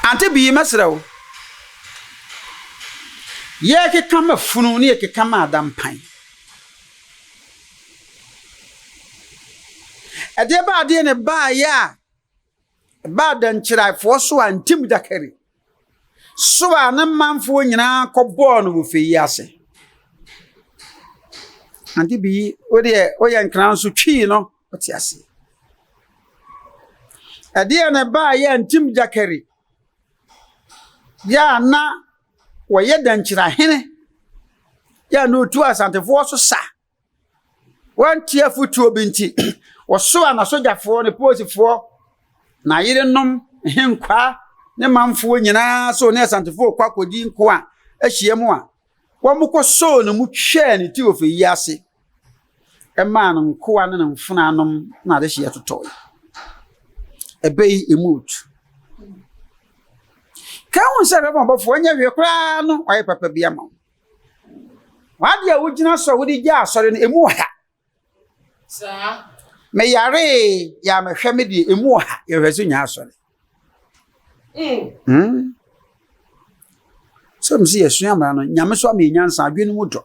Ante bii mɛsrɛ wo. Yɛrekeka ma funu ne yɛkeka ma ada mpan. Ɛdeɛ ba adeɛ ne baayɛ a ɛba adankyiraefoɔ so a ntim dakari so a ne manfoɔ nyinaa kɔbɔɔ no wɔ fɛ yi ase. Ante bii wodeɛ woyɛ nkran so twii no Ɔte aseɛ. Ɛdeɛ na ɛbaa yɛ Ntim Gyakɛre yɛ a na wɔyɛ Dankyira hene yɛ a na ɔtu Asantefoɔ so sa. Wɔantie afotuo bi nti, wɔsoaa n'asogyafoɔ, ne polisifoɔ, n'ayerenom, nhenkwaa, ne manfoɔ nyinaa sɛ ɔne Asantefoɔ rekɔ akɔdi nko a ahyia mu a Wɔkɔsɔɔ ne mu twɛɛ ne ti ofi yi ase maa ne nkoa ne ne mfenaa nom na adehyeɛ totɔe. Ɛbɛ yi emu otu. Ka ehu sɛ bɛma ɔbɔfo ɔnyɛ hwee koraa no wayɛ papa bi ama wo. W'ade a wogyina so a wode gyaa asɔre no emu ɔha Saa. Me yaree yɛ a mehwɛ me deɛ emu wɔ ha yɛhwɛ so nya asɔre. Mm. Sɛ mesi yɛsua mmara no nyame so ama nyansa adwene no mu dɔ.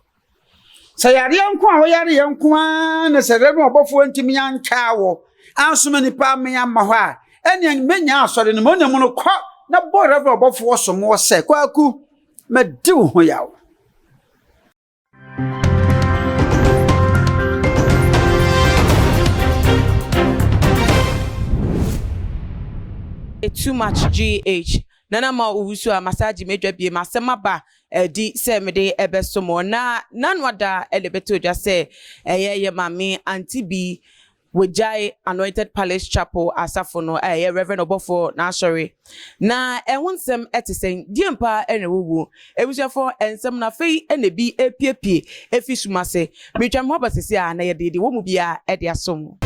Sɛ yareɛ nko a woyare yɛ nko ara na sɛ rɛbɛn ɔbɔfoɔ ntumi antwaa wɔ ansoma nipa ame amma hɔ a ɛnea menya asɔre no ma ɔnam no kɔ na bɔ rɛbɛn ɔbɔfoɔ somoɔ sɛ kwaku madi wo ho yaw. too much gh na na ma owusu a masaji medwa bie masɛm aba ɛdi sɛ mede ɛbɛso mo na nanu ada ɛde bɛtɔ dwa sɛ ɛyɛ yɛ maame anti bi Wɔagyae Anointed Palace Chapel asafo no a ɛyɛ Rev. Ɔbɔfoɔ n'asɔre. Na ɛho nsɛm te sɛn? Deɛn paa na ɛwɔ mu? Abusuafoɔ, nsɛm no afei na ebi repuepue afi sum ase. Meretwa me ho aba seesei ara na yɛde deɛ ɛwɔ mu biara de asom.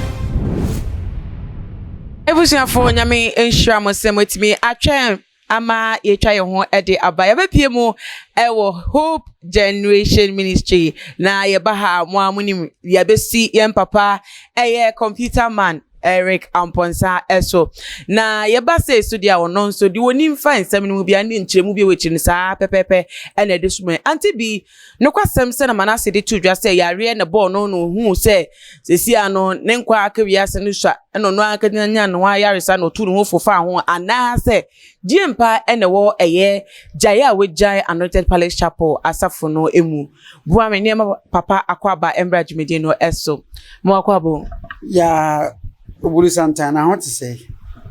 Abusuafoɔ, Nyame nhyira mo sɛ moatumi atwɛn ama yɛatwa yɛn ho de aba. Yɛbɛpue mu wɔ Hope Generation Ministry, na yɛba ha a, mo ara monim, yɛabɛsi yɛn papa ɛyɛ Computer Man Eric Amponsah ɛso. Na yɛba sei so deɛ a, ɔno nso deɛ ɔnim fa nsɛm no mu biara ne nkyerɛmu bi a ɛwɔ akyiri no saa pɛpɛɛpɛ ɛna ɛde soma yɛn. Ante Bee Nokwasɛm sɛ na Manase de too dwa sɛ yareɛ na ɛbɔɔ no na ɔhuu sɛ seesei ara no ne nkwa aka wiase no sua na ɔno ankasa nyaa ne ho ayaresa na ɔtuu ne ho fo faa ho anaasɛ gyie mpa na ɛwɔ ɛyɛ gyaeɛ a wɔagyae Anointed Palace Chapel asafo no mu. Boa me nneɛma papa Akwaaba mmra dwumadi no so. Mo Akwaaba o. Yaa Oburu Santana ho te sɛn?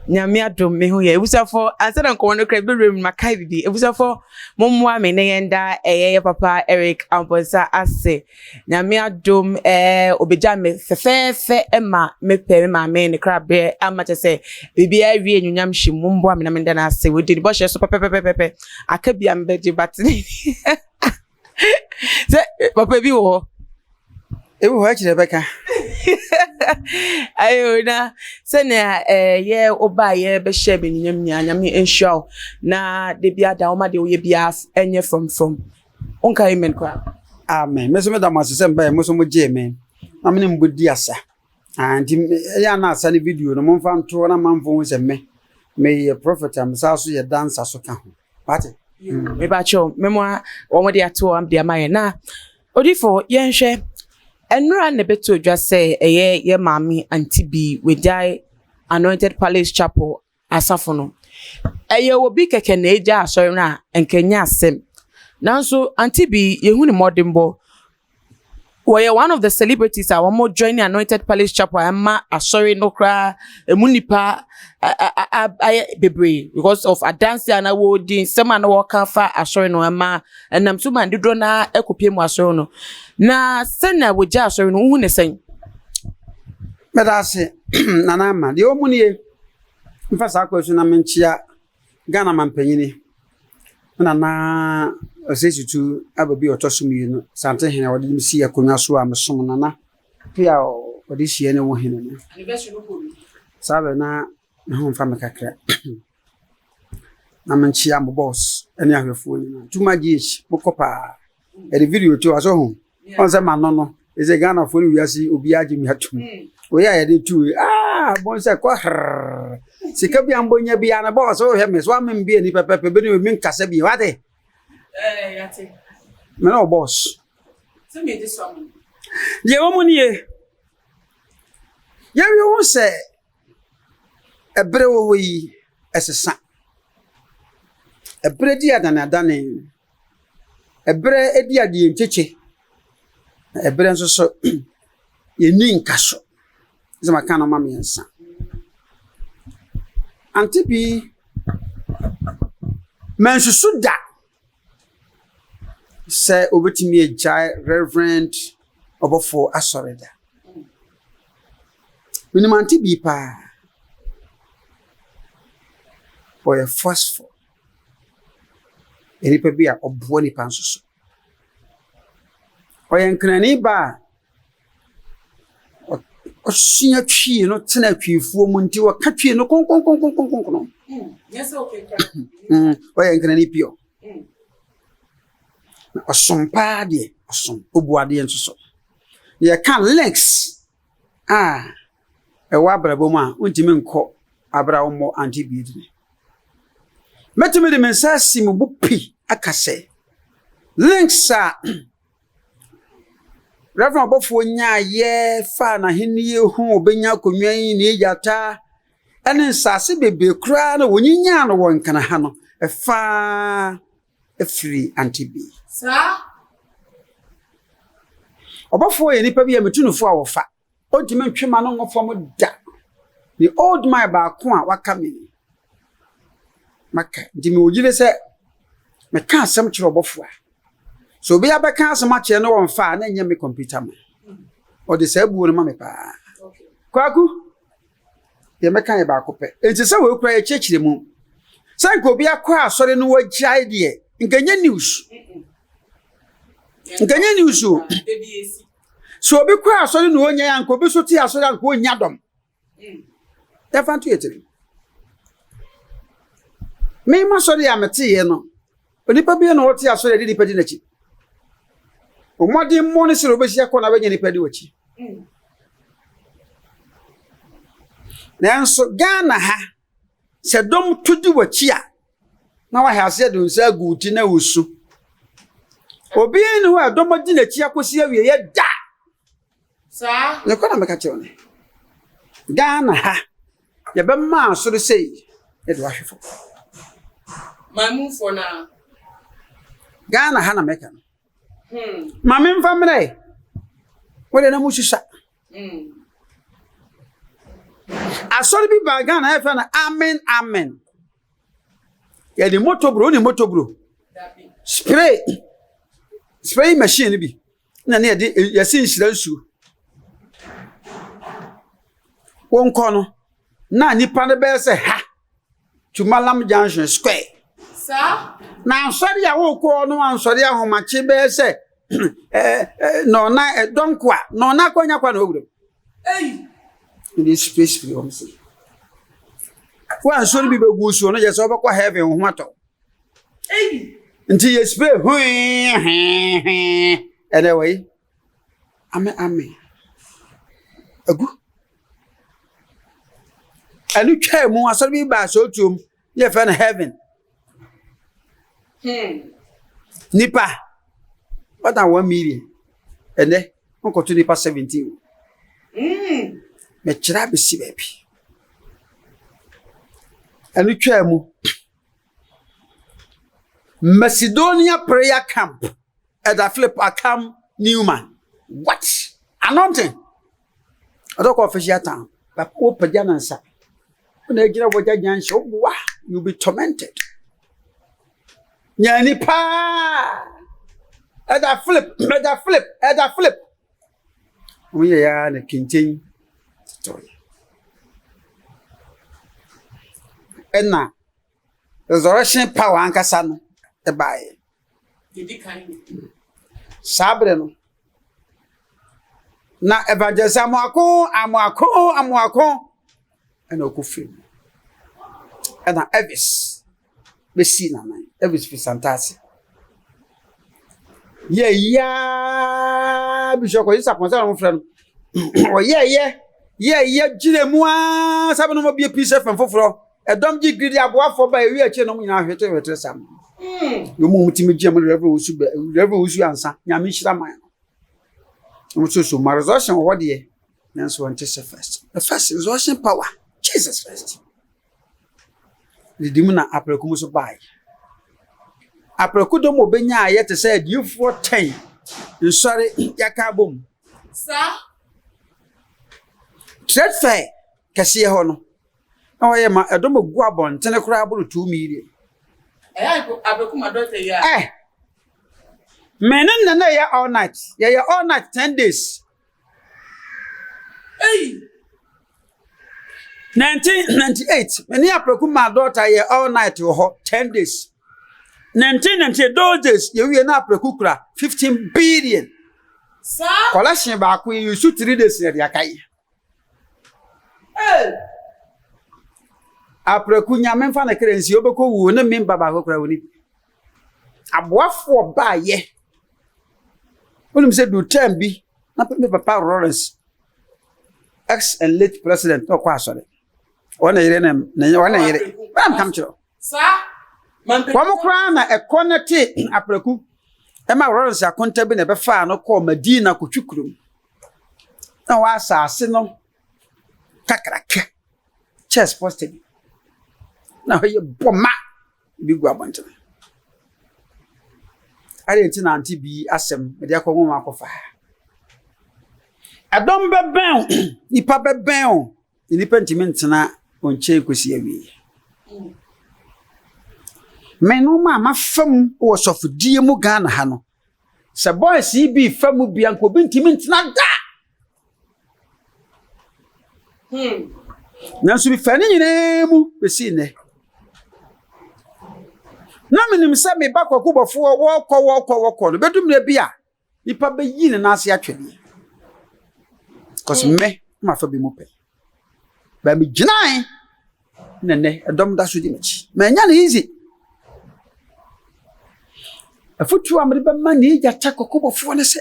Nyame adom me ho yɛ abusuafoɔ ansa na nkɔmmɔ no kora ɛbɛwura mu no makae biribi abusuafoɔ Mommoa me na yɛnda ɛyɛ yɛ papa Eric Amponsah ase. Nyame adom eh, obegya me fɛfɛɛfɛ ma mepɛ me maame ne krabeɛ ama kyɛ sɛ biribiara awie anuonyam hyem. Momboa me na menda no ase. Wadi ne bɔhyɛ so pɛpɛpɛpɛpɛ. Aka bi a mebɛgye but sɛ papa bi wɔ hɔ. Ewu hɔ akyi na ɛbɛka. Ayi o na sɛnea ɛyɛ eh, woba a yɛbɛhyɛ me nnuam nyinaa nyame nhyira wo na da bi ada woma deɛ woyɛ biara ɛnyɛ frɔmfrɔm wonka amen koraa amen me so meda mo ase sɛ mbaɛ mo so mogyee me na mene mbɔ di asa Ah, nti ɛyɛ a na asa ne video no momfa nto na manfo hu sɛ me meyɛ prɔfɛt a mesaa so yɛ dansa so ka ho wate mm. mebakyɛw memoa wɔn de ato wɔn de ama yɛn na odifo yɛnhwɛ nnura na ɛbɛto odwa sɛ ɛyɛ yɛ maame anti bi wagyae anointed palace chapel asafo no. Ɛyɛ obi kɛkɛ na egyaa asɔre no a, anka ɛnyɛ asɛm. Nanso ante bi, yɛhu ne mmɔdenbɔ. Ɔyɛ one of the celebrities a wɔn join Annointed Palace Chapel a ɛma asɔre no koraa ɛmu nnipa ayɛ bebree because of adanse a na wɔredi, nsɛm a na wɔreka fa asɔre no ɛma ɛnam so ma dodoɔ no ara kɔpie mu asɔre no. Na sɛnea wɔgyaa asɔre no, wohu ne sɛn? Meda ase, Nana Ama. Deɛ ɔmu nie, Mfa saa kwan so na menkyea Ghana mampanyini, me nana Osei Tutu aba bi a ɔtɔ so mmienu, Asante hene a ɔde me sii akonnwa so a mesom nana pii a ɔde hyia ne wo hene no. Saa bɛ na me ho mfa me kakra. na menkyea mo boss ne ahwɛfoɔ nyinaa. Tuma GH, mokɔ paa. ɛde video to aso ho ɔn sɛ ma no no ɛsɛ Ghana fo ne wiase obiara gye me atum oyɛ a yɛde tu aa bɔn sɛ kɔ hrrr sika bi a mbɔnya bi a na bɔɔ sɛ wohwɛ me so ame mbia ni pɛpɛpɛ bɛne me nkasa bi wate me ne ɔbɔs deɛ wɔ mu nie yɛwie wo sɛ ɛberɛ wɔ hɔ yi ɛsesa ɛberɛ di adanadane Ɛberɛ bi a deɛ nkyekye, na ɛberɛ nso so yɛnni nkaso. Sɛ maka nnoɔma mmiɛnsa. Ante bi, mansusu da sɛ ɔbɛtumi agyae Reverend Ɔbɔfoɔ Asɔre da. Menim Ante bi paa, ɔyɛ forceful. Onipa bi a ɔboa nnipa nso so. Ɔyɛ nkranni ba a ɔsua twi no tena twifuo mu nti ɔka twi no konkonkonkonkonkono. Mm, ɔyɛ nkranni pio. Na ɔsom paa deɛ, ɔsom. Ɔbu adeɛ nso so. Yɛka links a ɛwɔ abrabɔ mu a wontumi nkɔ abere a wɔmmɔ ante bi dini. Mɛtumi de me nsa asi mo bo pi aka sɛ links a Reverend ɔbɔfoɔ nyaa yɛ faa n'ahenni ho ɔbɛnya akonnwa yi ne agyata ne nsase bebree koraa na wɔnyinyaa no wɔ nkana ha no ɛfaa afiri ante bi. Saa ɔbɔfoɔ yɛ nipa bi a metu no fo a wɔfa. Ontumi ntwe mma no ngu fam da. Me old man baako a waka me maka di me oyi ne sɛ meka asɛm kyerɛ ɔbɔfo a sɛ obi abɛka asɛm akyerɛ no wɔmfa a na ɛnyɛ me kɔmputa ma ɔde saa buo no ma me paa kwaku deɛ mɛka yɛ baako pɛ enti sɛ wei kura yɛkyerɛkyerɛ mu sɛ nka obi akɔ asɔre no wagyae deɛ nka nyɛ news nka nyɛ news o Sɛ obi kɔ asɔre na ɔnya yɛ anka obi so te asɔre anka ɔnya dɔm. Yɛfa nto yɛ tiri. Mema sɔre a meteeɛ no, onipa bi na ɔte asɔre a ɛde nipa di n'akyi. Ɔmɔden mmɔ ne sɛ ɔbɛsi akɔ na bɛnya nipa di w'akyi. Nanso Ghana ha Sɛ dɔm tu di w'akyi a, na wahyɛ aseɛ de nsa agu wo ti na wosu. Obiara nni hɔ a dɔm adi n'akyi akɔsi awieeɛ da. Saa. Nokorɛ na meka kyerɛ wo no. Ghana ha, yɛbɛma asoro sei de wahwe fam. Mamufoɔ no ara. Ghana ha na meka no. ma memfa mmerɛ wode na mosusua asɔre bi baa ghana yɛfrɛ no amen amen yɛde motobro wone motobro spray spray machine no bi na ne yɛde yɛse nhyira nsuo wonkɔ no na nipa no bɛyɛ sɛ ha to Mallam Junction Square. Na asɔre a wɔkɔ no ansɔre ahomakye bɛyɛ sɛ na ɔna dɔnko a na ɔna akɔnya kwa na ɔwura mu. Ɛde space bi wɔn se. Wa nsɔre bi bɛgu so no yɛ sɛ ɔbɛkɔ heaven ho atɔ. Nti yɛ spray hwee hwee hwee ɛnɛ wɔ yi. Ame ame agu. Ɛno twaa mu asɔre bi baa sɛ otuom ne yɛfrɛ no heaven. Hmm. Nipa wɔda one million ɛnɛ nkɔto nipa seventeen. Hmm. Mɛkyerɛ abɛsi baabi. Ɛno twaa mu. Macedonia prayer camp Ɛda Philip Akam Newman. What? Anointing. Ɔdɔ kɔ official town. Papa wo pagya no nsa. Wo na agyina wɔ gya gyan hyɛ wo wa. You be tormented. Nyani paa. Ɛda Philip, ɛda Philip, ɛda Philip. Wɔn yɛ ya na kenten tɔyɛ. Ɛna Resurrection power ankasa no baeɛ. Saa berɛ no, na evangelist amoako amoako amoako ɛna ɔkɔ firi mu. Ɛna Elvis bɛsii n'anan, Elvis firi Santase. Yɛ yiaa Bishop Kwesi Sapon sɛ wɔn frɛ no. Ɔyɛɛyɛ yɛɛyɛ gyina mu ara sɛ bɛnom ɔbie pii sɛ fɛn foforɔ. Ɛdɔm gye gidi aboafoɔ ba ɛwi akyire nom nyinaa hwete hwete sam. Yɛ mu ti mi gye mu rɛvɛ wusu bɛ rɛvɛ wusu ansa nyame hyira man no. Wɔn so so ma resurrection wɔ hɔ deɛ nanso wɔn ti sɛ first. The first resurrection power Jesus first. Didi mu na apɛrɛku mu so baayi. Apɛrɛku dɔm obe nya ayɛ te sɛ adiifoɔ tɛn nsɔre yaka abom. Saa. Trade fair kɛseɛ hɔ no. Na wɔyɛ ma ɛdɔm a gu abɔntene koraa boro two million. Eh, me ne nana yɛ all night yɛyɛ all night ten days. nineteen ninety eight me ne apɛku ma dɔɔta yɛ all night wɔ hɔ ten days. nineteen ninety eight those days yɛwie na apɛku kura fifteen billion. collection baako yɛ yusu three days na ɛde aka yi. Apraku nya me nfa ne kra nsi ɔbɛkɔ wu ne me ba baako kora wɔnim. Aboafoɔ baayɛ wonim sɛ duu term bi na me papa Lawrence ex and late president na ɔkɔ asɔre ɔne yere ne ne ɔne yere bɛn kam kyerɛ. Wɔn koraa na ɛkɔ no te apraku ma Lawrence akonta bi na ɛbɛfaa no kɔɔ Madina kotwi kurom na wɔ asase no kakraka chess poster bi na hɔ yɛ bɔma bi gu abɔntene adɛn nti na ante bi asɛm mede akɔ nwoma akɔfa ɛdɔm bɛbɛn nipa bɛbɛn Nnipa ntumi ntena wo nkyɛn kɔsi awieɛ. Me no ma mafa mu wɔ sɔfodie mu Ghana ha no, sɛ boys yi bi fa mu bia nka obi ntumi ntena da. Hmm. Nanso mefaa ne nyinaa mu bɛsi nnɛ. Na menim sɛ meba kɔkobɔfoɔ wɔkɔ wɔkɔ wɔkɔ no bɛdummerɛ bi a Nipa bɛ yi ne nan ase atwɛ deɛ. Cause mm. mɛ ma fa bi mu pɛ. Bɛ mi gyinae na nɛ ɛdɔm da so di m'akyi. Mɛ ɛnya ne easy. Afutuo a mede bɛma ne agya kyɛ kɔkɔbɔfoɔ ne sɛ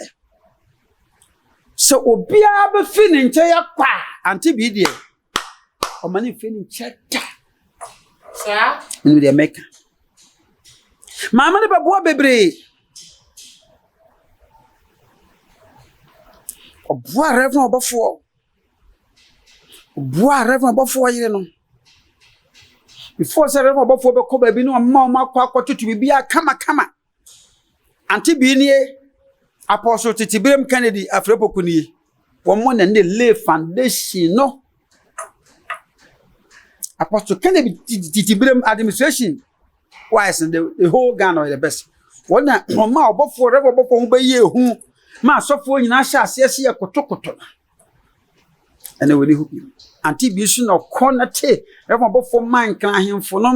sɛ obiara bɛfi ne nkyɛn akɔ a ante bii deɛ ɔma ne mfiri no nkyɛ da saa ɛnu deɛ mɛka maame no bɛboa bebree ɔboa rɛfna ɔbɔfoɔ ɔboa rɛfna ɔbɔfoɔ yere no before sɛ rɛfna ɔbɔfoɔ bɛkɔ baabi ne ɔma ɔma akɔ akɔtoto biribi a kamakama Ante bi nie, Apɔso tete Biram Kennedy Afrɛpoku nie. Wɔmmɔ na ne Lee Foundation no. Apɔso Kennedy tete Biram Administration wise no, the, the whole Ghana ɔyɛ the best. Wɔn na wɔn ma ɔbɔfoɔ, rɛbɔ ɔbɔfoɔ ho bɛyɛ ehu ma asɔfoɔ nyinaa hyɛ aseɛ sɛ yɛ kotokoto no. ɛna wɔ ne ho bio ante bi nso na ɔkɔ na te rɛfɔn abɔfoɔ maa nkran ahemfo no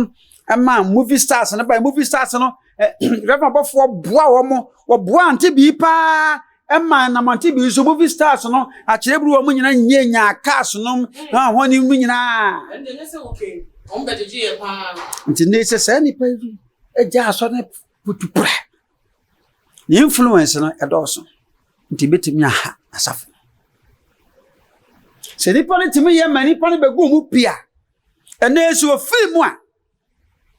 ɛma movie stars no ba movie stars no rɛfɔn abɔfoɔ boa wɔn wɔboa ante bi paa ɛma nam ante bi nso movie stars no akyerɛ buru wɔn nyinaa nyɛ nyaa cars no na wɔn ne mu nyinaa nti ne sɛ saa nipa yi ɛgya asɔ ne putu pura Ne influence no ɛdɔɔso nti ebetumi aha asafo. Sɛ nipa no tumi yɛ ma nipa no bɛgu mu pi a, ɛnna ɛsɛ ofiri mu a.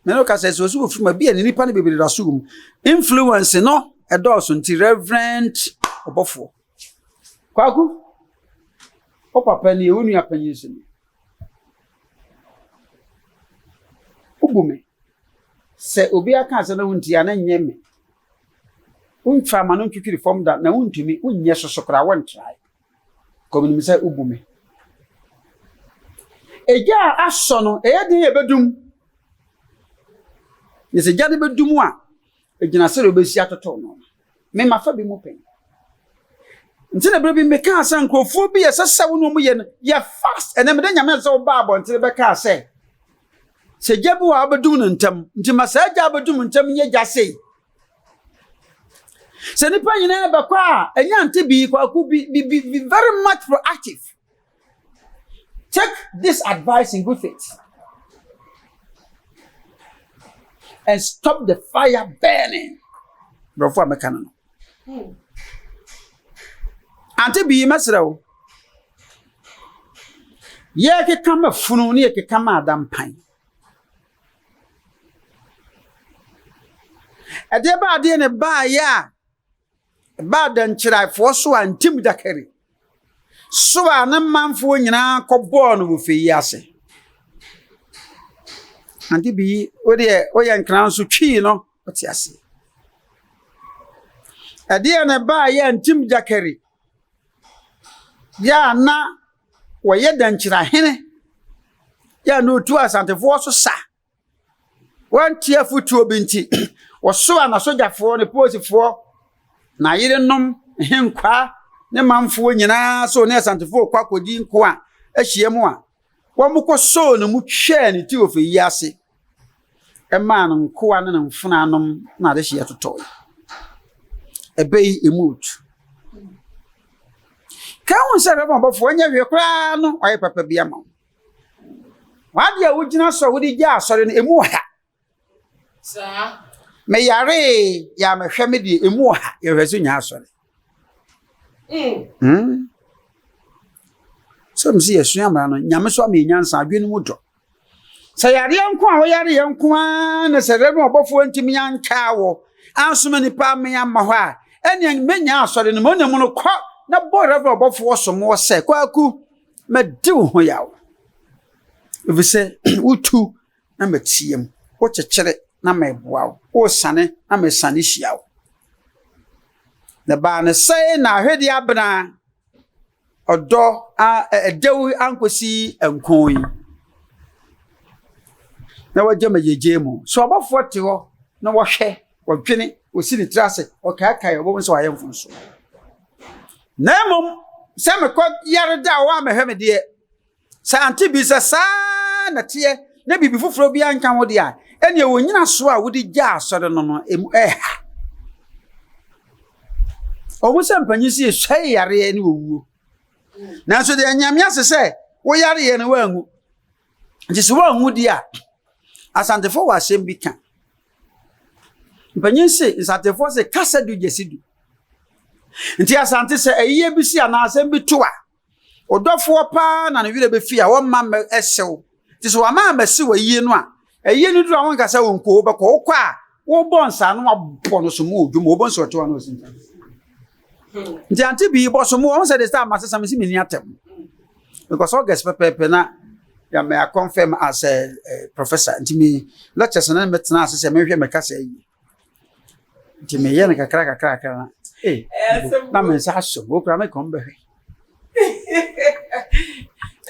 Mene wo ka sɛ sɛ ɔsɛ ofiri mu a, bi a ne nipa no bebree da so wɔ mu. Influence no ɛdɔɔso nti reverend ɔbɔfoɔ. Kwaku, wo papa nie, wo nua panyin nso nie. Wobu me. Sɛ obi aka asɛm na wontie a, na nyɛ me. Womfa ama no ntwitwiri fam da na wontumi, wonyɛ soso koraa, wontrae. Kɔmenim sɛ wobu me. Egya a asɔ no, ɛyɛ den yɛbɛdum. Na sɛ gya no bɛdum a, Egyina sɛdeɛ wobɛsi atoto no. Me ma fa bi mu pɛ. Nti na berɛ bi mekaa sɛ nkurɔfoɔ bi ɛsɛ sɛ wo ne wɔn yɛ no yɛ fast ɛnɛ meda nyame ase sɛ wobaa abɔntene bɛkaa sɛ sɛ gya bi wɔ a wobɛdum no ntɛm nti ma saa gya wobɛdum ntɛm nyɛ gya sei sɛ nipa nyinaa bɛkɔ a ɛnya nte bi kwaku bi bi bi very much proactive Take this advice in good faith and stop the fire burning. Nkurɔfoɔ a mɛka no no. Ante bii mɛsrɛ wo. Yɛkeka ma funu ne yɛkeka ma adampan. Ɛdeɛ ba adeɛ ne baayɛ a Ɛbaa Dɛnkyerɛfoɔ Soa Ntim Da Kari, Soa ne manfoɔ nyinaa kɔbɔɔ no wɔ fie yi ase. Ante bi yi, wo deɛ woyɛ nkran so twii no, wote aseɛ. Ɛdeɛ na ɛbaa yɛ Ntim Da Kari, yɛ a na wɔyɛ Dɛnkyerɛhene, yɛ a na ɔtu Asantefoɔ so sa. wɔantie afotuo bi nti, wɔsoaa n'asogyafoɔ, ne polisifoɔ, n'ayerenom, nhenkwaa, ne manfoɔ nyinaa so ne Asantefoɔ rekɔ akɔdi nko a ahyiam a wɔkɔsoo no mu twaa ne ti wɔ fie yi ase maa no nkoa ne ne mfonanom na adehyeɛ totɔe. Ɛbɛ yi emu otu. Ka ho sɛ bɛbɔ ɔbɔfoɔ nyɛ hwee koraa no ɔyɛ papa bi ama wo. W'ade a wogyina so a wode gyaa asɔre no, emu wɔ ha. Meyaree, yɛ a mehwɛ me deɛ, emu wɔ ha. Yɛhwɛ so nya asɔre. Hmm. Sɛ mo sɛ yɛsua mmara no, nyame so ama yɛ nyansa, adwene no mu dɔ. Sɛ yareɛ nko a woyare yɛ nko ara na sɛ rɛ no ɔbɔfoɔ ntumi ankaa wɔ ansoma nnipa ame amma hɔ a, ɛneɛ mɛnya asɔre no ma ɔnam no kɔ na bɔ rɛ no ɔbɔfoɔ somoɔ sɛ kwaku Mɛdi wo ho yaw, efisɛ wutu na meteɛ mu, wokyekyere na meboa wo, wosiane na mesiane hyia wo. Na ɛbaa no sɛɛ na ahwedeɛ abena, ɔdɔ a ɛdɛw ankosi nko yi, na wagya me gyegyeɛ mu. So abɔfoɔ te hɔ na wɔhwɛ Ɔdwene, ɔsi ne tiri ase, ɔkaakae, ɔbɔ mu sɛ wayɛ mfomsoɔ. Na mmom sɛ mekɔ yare da a wɔammɛhwɛ me deɛ, sɛ ante bi sɛ saa na teɛ na biribi foforɔ biara nka ho deɛ a, ɛnneɛ wo nnyinasoɔ a wode gyaa asɔre no no, emu reha. Ɔhu sɛ mpanyin si esɔe yareɛ ne owuo. Nanso deɛ Nyame ase sɛ wo yareɛ no woanwu. Nti sɛ woanwu deɛ a, Asantefo wɔ asɛm bi ka. Mpanyin se, Nsantefoɔ se kasa du gye se du. Nti Asante sɛ ayiyɛ bi si anaa asɛm bi to a, ɔdɔfoɔ paa na ne werɛ bɛfi a wɔmma mmɛ ɛsew. Nti sɛ wɔama ammɛse w'ayiyɛ no a, ayiyɛ no duru a wonka sɛ wonkɔ, wobɛkɔ. Wokɔ a, wobɔ nsa na wabɔ no so mu wɔ dwom, wobɛhu sɛ ɔte hɔ a na ɔsi nsa. nti ante bi bɔ so mu wɔn sɛ de sɛ ama sesa mesi meni atɛm because august pɛpɛɛpɛ na yàmɛ akɔnfɛm as a professor nti mi lectures na mi tena ase sɛ mi hwɛ mi kasa yi nti mi yɛ no kakra kakra kakra na ee na mi nsa aso mo kura mi kɔn bɛ hwɛ.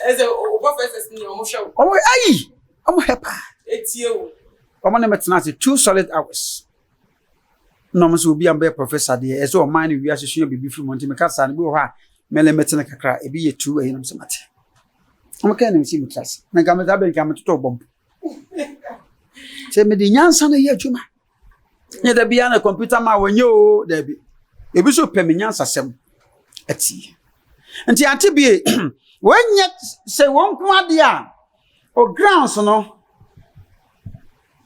ɛsɛ o professors ni wɔn hwɛ o. wɔn ayi wɔn hɛ paa. etie o. wɔn ne mi tena ase two solid hours. na ɔmo sɛ obi a ɔbɛyɛ professor deɛ ɛyɛ sɛ ɔman ne wiase sua biribi firi mu nti meka saa no bi wɔ hɔ a mɛlɛ mɛtene kakra ebi yɛ tuu ɛyi nom sɛ mate ɔmo kɛn nam si mu tra ase na nka mɛta bɛn nka metoto ɔbɔ mpo sɛ mede nyansa no yɛ adwuma nyɛ da biara na kɔmputa ma wɔnyɛ o daabi ebi so pɛ me nyansa sɛm atie nti ante bie wɔnyɛ sɛ wɔn nko adeɛ a O grounds no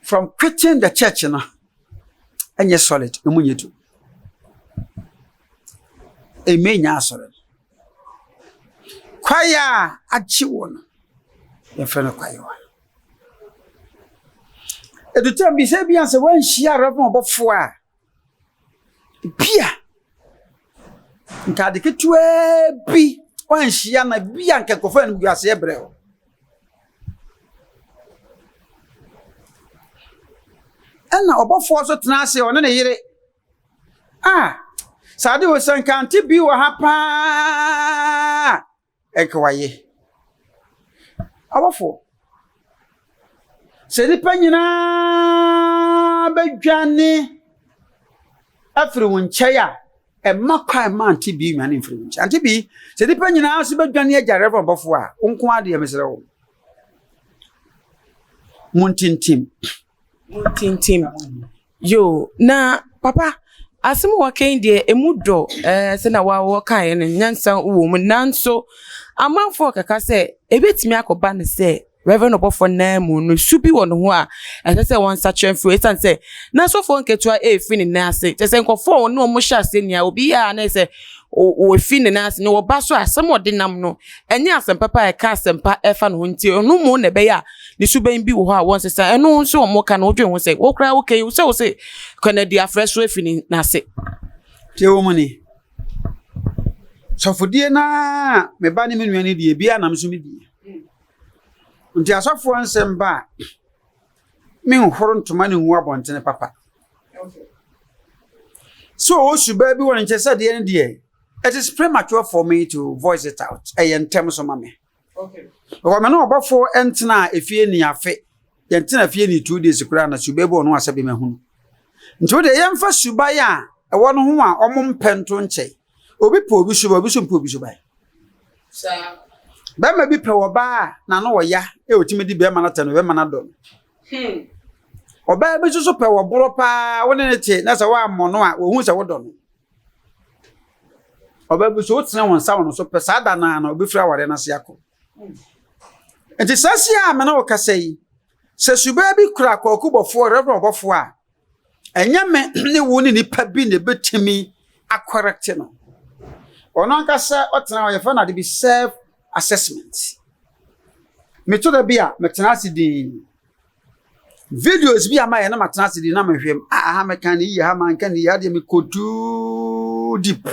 from quitting the church no ɛnyɛ solid ɛmu nyɛ du ɛmɛ nyɛ asɔre no kwaeɛ a agye wɔ no yɛmfrɛ no kwaeɛwa ɛdutam bi sɛ bia sɛ woanhyia reverend ɔbɔfoɔ a Ebia ntade ketewaa bi anhyia na ebia anka nkurɔfo animguaseɛ brɛ wo. Ɛna ɔbɔfoɔ nso tena ase ɔne ne yere a saa de o sɛ nka ante bi wɔ ha paa. Ɛkewaye. Abɔfoɔ, sɛ nnipa nyinaa bɛdwane afiri wo nkyɛn a, ɛmma kwan mma ante bi nnwane mfiri wo nkyɛn. Ante bi, sɛ nnipa nyinaa nso bɛdwane agya Reverend Bɔfoɔ a, wo nko ara deɛ mesrɛ wo, montintim. Muntintim. Yoo, na papa, asɛm a wɔaka yi deɛ, emu dɔ. Ɛɛ, sɛnea wo ara wokaeɛ no, nyansa wom. Nanso, amanfoɔ rekeka sɛ, ɛbɛtumi akɔba no sɛ Reverend ɔbɔfoɔ no nan mu no, su bi wɔ ne ho a ɛsɛ sɛ wɔsakyera mfiri hɔ ɛsiane sɛ n'asɔfoɔ nketewa refiri ne nan ase. Kyerɛ sɛ, nkurɔfoɔ a wɔne wɔn hyɛ aseɛ nni ara, obi yɛ a na ɛsɛ sɛ wɔfiri ne nan ase, na wɔba nso a, asɛm a ɔde nam no, ɛnyɛ asɛm papa a ɛka asɛmpa fa ne ho nti, ɔno mmom na ɛbɛyɛ a, ne suban bi wɔ hɔ a wɔnsesa. Ɛno nso wɔn ka no wodwen ho sɛ wo koraa woka yi sɛ wo se kɔnadi afrɛ so afi ne n'ase. Tie wo mu ni. Sɔfodie na me ba ne me nua ne die bi anam so me die. Nti asɔfoɔ nsɛm ba a menhoro ntoma ne ngu abɔntene papa. Sɛ ɔwɔ subaa bi wɔ ne nkyɛ sɛ deɛ ne deɛ it is premature for me to voice it out. Ɛyɛ ntɛm so ma me. Because me ne ɔbɔfo ntenaa efie ni afe. Yɛntena efie ni two days koraa na suba bi wɔ no asɛ bi mahu no. Nti wo deɛ yɛmfa suban a ɛwɔ no ho a ɔmo mpɛ nto nkyɛn. Obi pɛ obi suban, obi so mpɛ obi suban. Bɛrima bi pɛ ɔbaa a n'ano ɔya a otumi di bɛrima no atɛm no, bɛrima no adɔ no. Hmm. Ɔbaa bi nso so pɛ ɔborɔ paa, wo ne no te na sɛ woammɔ no a, ohu sɛ wodɔ no. Ɔbaa bi so wotena wɔn nsa wɔn so pɛ saa da no ara na obefiri awareɛ no ase akɔ. Nti saa si a me ne wo kasa yi, sɛ subaa bi kura kɔkubɔfoɔ rɛbrɛ ɔbɔfoɔ a, ɛnyɛ me ne wo ne nipa bi na ebetumi akɔrɛkte no. Ɔno ankasa ɔtena hɔ yɛfrɛ no ade bi self assessment. Meto da bi a metena ase dinn. videos bi a mayɛ na matena ase de na mehwɛ m a aha mɛka ne yie ha manka ne yie adeɛ mekɔ too deep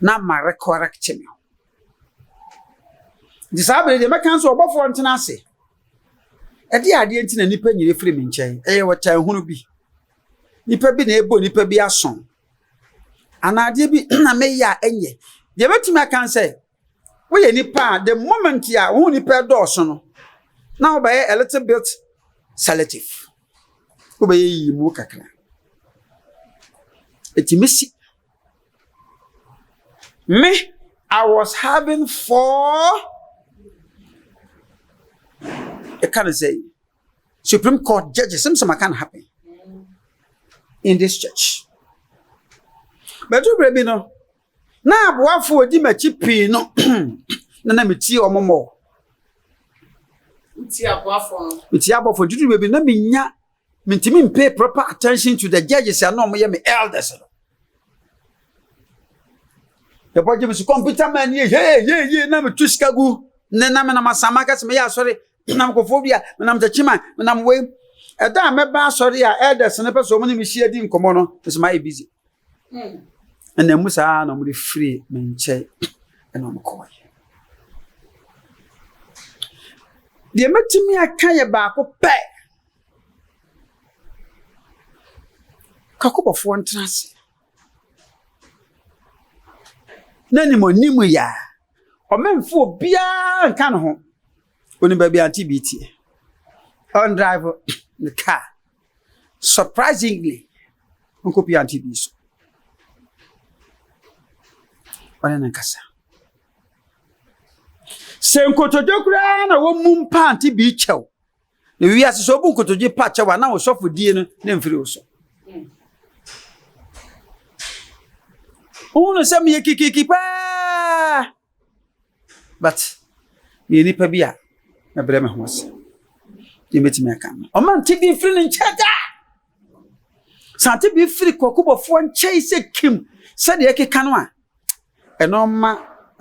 na ma recorrect me nti saa bere deɛ mɛka nso ɔbɔfoɔ ntena ase ɛde adeɛ nti na nnipa nyina firi me nkyɛn ɛyɛ wɔtan hunu bi nnipa bi na ɛbɔ nnipa bi aso anaa adeɛ bi na meyɛ a ɛnyɛ deɛ mɛtumi aka sɛ Woyɛ nipa a the moment a wo ho nipa dɔɔso no, na wobɛyɛ a little bit selective. Wobɛyɛ yiyi mu kakra. Ɛtumi si. Me, I was having four, ɛka ne sɛ, Supreme Court judges, sɛm sɛ ma can happen in this church. But wobɛ bi no, Ná aboafo a wodi m'akyi pii no na na mitie wɔn mmɔ. Wotie aboafo no? Mitie aboafo no. Dudu baabi na minya mintumi mpay proper attention to the judges a na wɔyɛ me elders no. Yɛbɔ gye me so kɔmputa man yɛ yee yee yee na metu sika gu ne na menam asama kɛse meyɛ asɔre menam kɔfoɔ bi a menam takyima menam wei ɛda a mɛba asɔre a elders no pɛ sɛ ɔmo ne me hyia di nkɔmmɔ no ɛsɛ mayɛ busy ɛna mu saa na wɔde firi me nkyɛn ɛna wɔkɔɛ deɛ mɛtumi aka yɛ baako pɛ kakɔbɔfoɔ ntena ase na nim ɔnim yɛ a ɔmɛmfo obiara nka ne ho onim baabi ante bi tie ɔndrive ne kaa Surprisingly, ɔnkɔ pia nti bi so. Ɔne no nkasa. Sɛ nkotodwe koraa na wɔmu mpa nti bi kyɛw. Na wiase sɛ ɔbu nkotodwe pa kyɛw a na ɔsɔfo die no ne mfiri wo so. Wohunu sɛ meyɛ kikiki paa. but meyɛ nipa bi a mɛbrɛ me ho ase deɛ mɛtumi aka no ɔma nte bi mfiri ne nkyɛn da sɛ ate bi firi kɔkobɔfoɔ nkyɛn sɛ kim sɛdeɛ ɛkeka no a ɛnɔma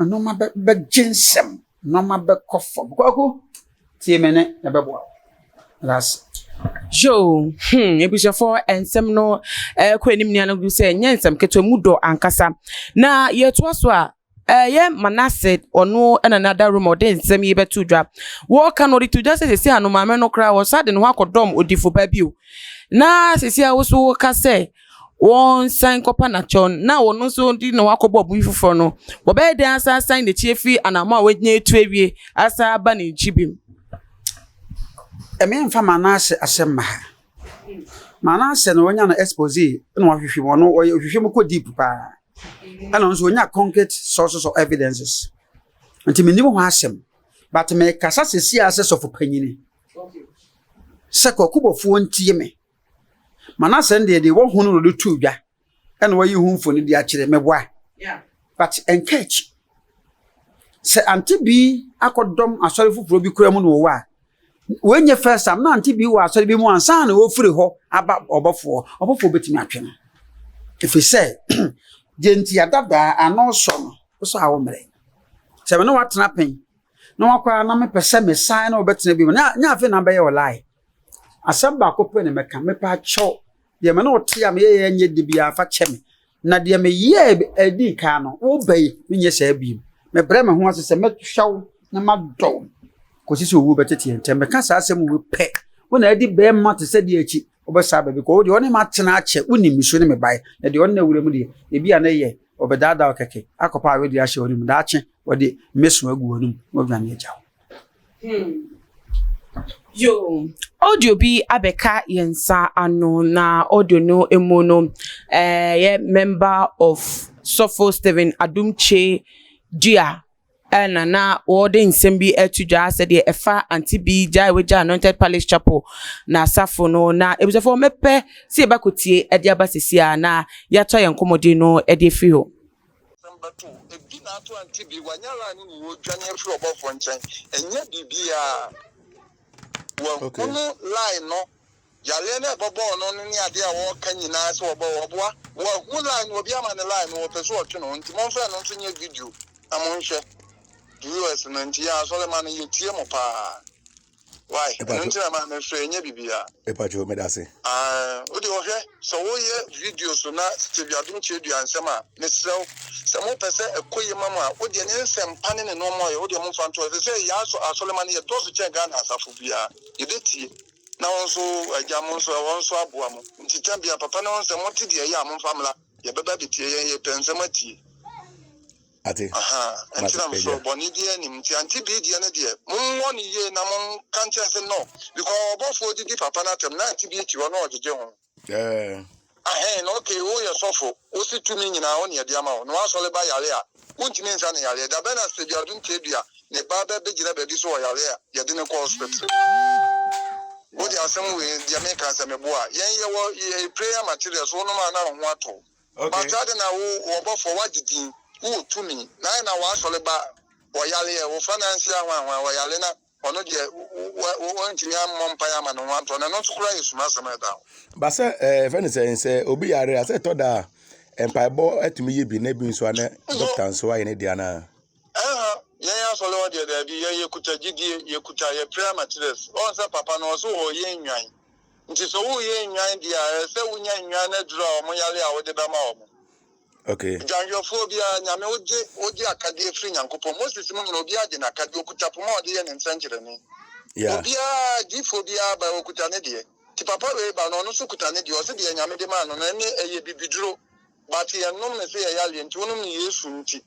ɛnɔma bɛgye nsɛm ɛnɔma bɛkɔ fam kɔko tie me ne ɛbɛboa wo that's yo hmm ebusuafo nsɛm no ɛkɔ anim nea no gu sɛ nyɛ nsɛm ketewa mu dɔ ankasa na yɛtoa so a Ɛyɛ Manase ɔno na na da Roma ɔde nsɛm yi bɛto dwa. Wɔka no ɔde to dwa sɛ sɛsi a no maame no koraa wɔsa de ne ho akɔdɔm odifo ba bio. Na sɛsi a woso woka sɛ wɔnsan nkɔpa n'akyɛw na ɔno nso de ne ho akɔbɔ ɔbo bi foforɔ no, wɔbɛyɛ dɛn asan asan n'akyi afiri anammɔn a wanya atu awie asan aba ne nkyi bio? Ɛme mfa Manase asɛm mma ha. Maa n'ahyɛ no onya no expose na ɔahwehwɛ mu ɔno ɔyɛ ɔhwehwɛ mu kɔ deep paa ɛna ɔno nso onya concrete sources of evidences nti menim ho asɛm but mekasa sɛsi a sɛ sɔfo panyini sɛ kɔkobɔfoɔ ntie me ma no asɛm deɛ deɛ wɔhunu no de to dwa ɛna wayi ho mfoni de akyerɛ mɛboa but ɛnka akyi sɛ ante bi akɔdɔm asɔre foforɔ bi kura mu na wɔwɔ a wɔnyɛ first time na ante bi wɔ asɔre bi mu ansa na wɔfiri hɔ aba ɔbɔfoɔ ɔbɔfoɔ bɛtumi atwe no ɛfiri sɛ deɛ nti adadaa ano sɔ no wosɔ a wo mmerɛ sɛ me ne watena pɛn na wakɔ a na mepɛ sɛ mesan na wɔbɛtena bi mu na afei na bɛyɛ ɔlae asɛm baako pɛ na mɛka mepɛ akyɛw Deɛ me ne wo te a meyɛɛ nyɛ de biara fa kyɛ me, na deɛ meyɛɛ ɛdi kan no, woba yi, menyɛ saa bio. Mebrɛ me ho ase sɛ mɛhwɛ wo na madɔ wo kɔsi sɛ owuo bɛtete yɛn ntam. Meka saa asɛm wei pɛ, wo na adi bɛrima te sɛ deɛ akyi wobɛsa aba bi kɔ. Wo deɛ ɔne me atena akyɛ, wonim me su ne me baeɛ, na deɛ ɔne no awura mu deɛ, ebia na ɛyɛ ɔbɛdaadaa wo kɛkɛ akɔpa awedeɛ ahyɛ w'anom. Daakye, ɔde mɛso agu w'anom na wadwane agya wo. Hmm. Yo, audio bi abɛka yɛn nsa ano na audio no mu no ɛyɛ eh, member of sɔfo Stephen Adumche dua ɛna na wɔde nsɛm bi ɛto dwa sɛdeɛ ɛfa ante bi gya a wɔgya anointed palace chapel na asafo no na ebusafo wɔmɛpɛ sɛ yɛbɛkɔ tie ɛde aba sisi a na yɛatɔ yɛn nkɔmmɔden no ɛde afiri hɔ. Asɛm bɛto wo. Ɛdi na ato ante bi. Wanya ara ne ne wɔ dwane afiri ɔbɔfoɔ nkyɛn. Ɛnyɛ biribiara. Wahunu line no. Yareɛ no a ɛbɛbɔɔ no no ne adeɛ a wɔreka nyinaa sɛ wɔbɔ wɔboa. Wahu line no. Obi ama no line no. Wɔpɛ sɛ wɔtwe ne ho. Nti momfa ɛno nso nyɛ video na monhwɛ. US no nti yɛn asɔremma no yɛtie mo paa. Why? Ɛno nti na maa mefrɛ ɛnyɛ biribiara. Mepatwo meda ase. Ah, wode ɔhwɛ sɛ woyɛ video so na Steve Adom Kyerɛdua nsɛm a, mesrɛ wo sɛ mopɛ sɛ ɛkɔ yie ma mo a, wodeɛ ne nsɛmpa ne ne nnoɔma ɔyɛ wodeɛ momfa nto hɔ. Ɛsɛ sɛ yɛn asɔ asɔremma no yɛdɔɔso kyɛn Ghana asafo biara. Yɛbɛtie na wo nso agya mo nso ɛhɔ nso aboa mo. Nti ta biara papa no ho nsɛm mote deɛ ɛyɛ a momfa mmra. Yɛbɛba abɛtie yɛn yɛpɛ nsɛm atie. Ate? Ahaa, ɛnti Mate, na mesɔre, agya. bɔne biaa nnim, nti Auntie Bee deɛ no deɛ, monwɔ no yie na monka nkyerɛ se no, because ɔbɔfoɔ didi papa no atɛm, na Auntie Bee te hɔ na ɔgyegye ho. Ɛɛ. Ahɛn, na ok, woyɛ sɔfo, wose tumi nyinaa wo na yɛde ama wo, na woasɔre ba yare a, wontumi nsa no yareɛ, da bɛn na Sister Biadum Tebea ne ba bɛbegyina baabi se ɔyare a, yɛde no kɔ hospital? Wode asem wei, deɛ meka sɛ meboa, yɛn yɛwɔ yɛ prayer materials, wonom a na wo ho atɔ wo. Mpataa adɛn na wo, wo ɔbɔfoɔ, woagye din, wowɔ tumi, na adɛn na w'asɔre ba wɔ yareɛ, wofra nansi ahoahoa wɔ yareɛ, na ɔno deɛ, wo, wo, woantumi ammɔ mpaeɛ amma ne ho antɔ no, ɛno nso koraa yɛ sumasɛm a ɛda hɔ. Ba sɛ, ɛɛ, yɛfrɛ no sɛn, sɛ obi yare a, sɛ ɛtɔ da a, mpaebɔ atumi yɛ bi, na ebi nso a, na dɔkta nso ayɛ ne deɛ anaa? Ɛha, yɛn asɔre hɔ deɛ, daabi, yɛn, yɛkuta gyidie, yɛkuta, yɛpere amatirɛs, ɔn sɛ papa no, ɔse ɔyɛ nnwan. Nti sɛ woreyɛ nnwan deɛ a, ɛsɛ sɛ wonya nnwan no aduro a wɔn yare a wode bɛma wɔn. Okay. Dwanhwɛfoɔ biara, Nyame wogye, wogye akadeɛ firi Nyankopɔn. Moses mu nyina, obiara gye n'akadeɛ, okuta poma a ɔde yɛ ne nsɛnkyerɛnne. Yeah. Obiara, diifoɔ biara ba, okuta ne deɛ. Nti papa wei ba no, ɔno nso kuta ne deɛ, ɔse deɛ Nyame de maa no no, ɛne, ɛyɛ bibiduro, but yɛnnom no sɛ yɛyareɛ nti, wonom no Yesu nti.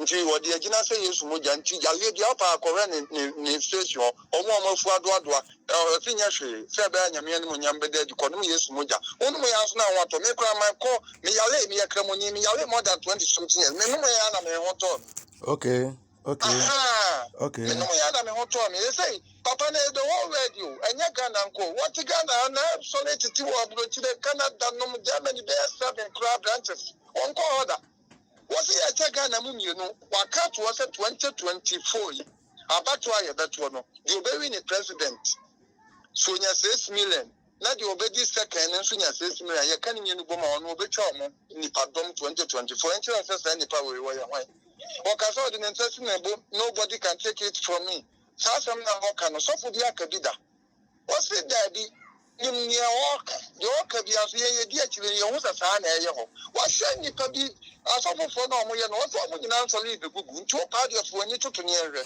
Nti wɔde agyina sɛ Yesu mogya nti yareɛ biara ɔpɛ a kɔhwɛ ne ne ne face hɔ ɔmo a ɔmo afu adoadoa ɛɛ ɔse nyɛ hwee sɛ ɛbɛyɛ a Nyame animuonyam bɛda adi kɔnom Yesu mogya wonom yɛ ansa na wo ho atɔ me koraa my kɔ me yaree meyɛ kramoni me yaree more than 20 something years me nom yɛ ara na me ho tɔɔ me okay okay ahaa okay me nom yɛ ara na me ho tɔɔ me ɛsei papa na the whole world o ɛnyɛ Ghana nko wɔte Ghana ha na sɔre tete wɔ aburokyire Canada nom Germany bɛyɛ seven koraa branches wɔnkɔ hɔ da. Wɔse yɛkyɛ Ghana mu mmienu, waka atoɔ sɛ 2024 yi abatoɔ a yɛbɛtoɔ no, deɛ ɔbɛwi ne president so nya six million na deɛ ɔbɛdi second no nso nya six million, yɛka ne mmienu bom a ɔno ɔbɛtwa wɔn nnipadɔm 2024, ɛnkyerɛ wo sɛ saa nnipa wei wɔyɛ hwan? Ɔka sɛ ɔde ne nsa si ne bo, nobody can take it from me, saa asɛm no a ɔka no sɔfo bi aka bi da? Wɔse, Daabi, nim nea ɔreka. Deɛ ɔreka biara nso, yɛn yɛdi akyire, na yɛhu sɛ saa ara na ɛreyɛ hɔ. Wɔahyɛ nnipa bi, asɔfofoɔ no a wɔyɛ no, wɔse wɔn nyinaa nsɔre rebɛgugu. Nti wo paa deɛ fa w'ani to toneɛ nhwɛ.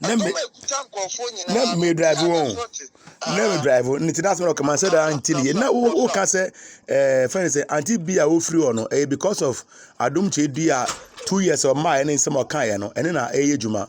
Ɛdɔm a ɛkuta nkurɔfoɔ nyinaa no, na medrive wɔn na medrive wɔn nti na asɛm na ɔkama sɛ daa nti ne yɛ na woka sɛ ɛɛ fɛn sɛ anti bi a wofiri hɔ no ɛyɛ because of adom kyɛ dua two years ɔmaa ɛne nsɛm ɔkaeɛ no ɛne na ɛyɛ adwuma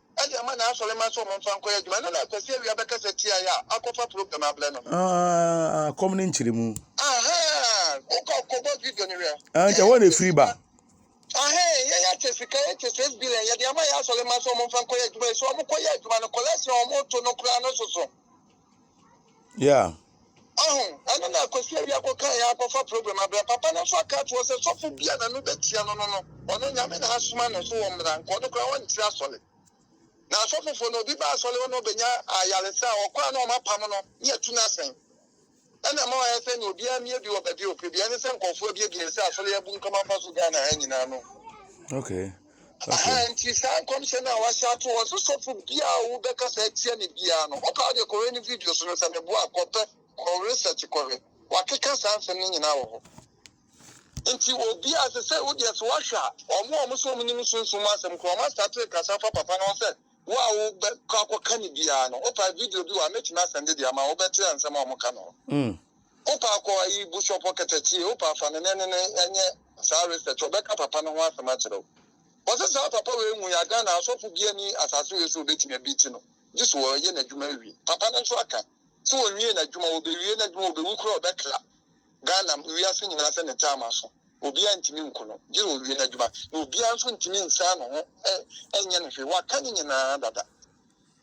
de ama n'asɔremma sɛ wɔmfa nkɔyɛ adwuma. Ɛno na Kwasi Awia bɛkasa tiae a akɔfa program abrɛ no. Ah, kɔm ne nkyerɛmu. Aha, wokɔ kɔbɔ video no hwɛ. Ah, nkyɛ hɔ na ɛfiri ba. Aha, yɛn akyɛ sika, yɛkyɛ six billion, yɛde ama yɛ asɔremma sɛ wɔmfa nkɔyɛ adwuma yi. Sɛ wɔkɔyɛ adwuma no, cholesterol a wɔto no koraa no soso. Yeah. Ɔho, ɛno na Kwasi Awia kɔka yɛ akɔfa program abra. Papa no nso aka ato hɔ sɛ sɔfo bi a n'ano bɛtia no no no, ɔno Nyame na asoma no so ɔmmra, nka ɔno koraa ɔnte asɔre. Na asɔfofo no, obi ba asɔre hɔ na ɔbɛnya ayaresa a, ɔkɔ a na wɔapam no ne atu no asɛn. Ɛna ɛma wɔayɛ sɛ nea obiara mmie bi wɔ baabi a ɔpɛ bi. Ɛne sɛ nkurɔfoɔ abie bi, ɛsɛ asɔre abunkam afa so Ghana ha nyinaa no. Okay. Aha nti saa nkɔmhyɛ no a wahyɛ ato hɔ sɛ sɔfo biara a wobɛka saa atia ne biara no ɔpɛ a deɛ kɔhwɛ ne video so no sɛ meboa a kɔpɛ kɔ research kɔhwɛ wakeka saa nsɛm no nyinaa wɔ hɔ nti obi a sɛ sɛ wodeɛ so wahwɛ a ɔmo a ɔmo sɛ ɔmo nim sunsum asɛm korɔ ɔmo asate kasa fa papa no ho sɛ wo a wobɛkɔ akɔka ne biara no wopɛ video bi wɔ a mɛtumi asɛnde deɛ ama wobɛte a nsɛm a ɔmo ka no mm. Wopa a kɔ ayi bushop hɔ kɛtɛ tie, wopa a fa ne ne ne nyɛ saa research, ɔbɛka papa no ho asɛm akyerɛ wo. Wɔse saa papa wei nwu ya, Ghana asɔfo bia ni asase wei so ɔbɛtumi abiti no, gye so ɔyɛ n'adwuma awie. Papa no nso aka se ɔnwie n'adwuma, ɔbɛwie n'adwuma, ɔbɛwu koraa ɔbɛkra Ghana wiase nyinaa sɛ ne time aso, obiara ntumi nku no gye sɛ ɔwie n'adwuma, na obiara nso ntumi nsan ne ho nyɛ no hwee, waka ne nyinaa dada.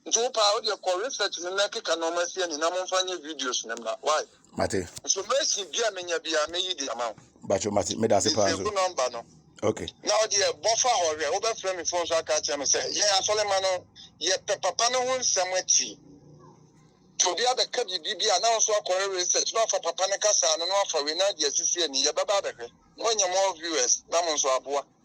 Nti wo paa wo deɛ kɔ research ne na keka nɔɔma asi ani na momfa nyɛ videos ne mma why. Mate. Information bi a menya bi a meyi di ama wo. Bacho mate meda ase paa so. Nse number no. Okay. Na wo deɛ bɔfa hɔ hwɛ wobɛfrɛ me phone so aka akyerɛ me sɛ yɛn asɔrema no yɛpɛ papa no ho nsɛm akyi. Nti obi abɛka biribi bi a na wo nso akɔyɛ research na wafa papa no kasaa no na wafa wei na ade asisi ani yɛbɛba abɛhwɛ. Moanya more viewers na mo nso aboa.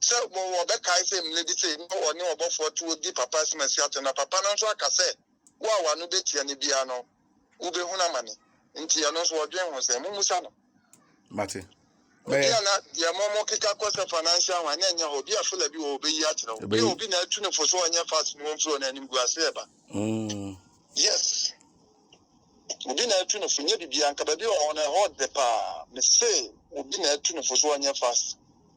sɛ wɔbɛkae sɛ mmere bi sei na ɔne ɔbɔfoɔ te hɔ di papa asɛmasi atɛm, na papa no nso aka sɛ, Wo a w'ano bɛtia no biara no, wobɛhunu amane. Nti ɛno nso wɔdwen ho sɛn? Mommisa no. Mate. Obi a na deɛ mɔmɔ keka kɔ sɛ financial ho a na ɛnyɛ hɔ. Obi a fela bi wɔ ɔbɛyi akyerɛ wo. Obi a obi na atu ne fo so ɔnyɛ fast no wɔmfiri ɔno anim gu ase ɛba. Mm. Yes. Obi na atu ne fo nyɛ biribiara nka baabi ɔwɔ no ɛhɔ de paa. Mese obi na atu ne fo so ɔnyɛ fast.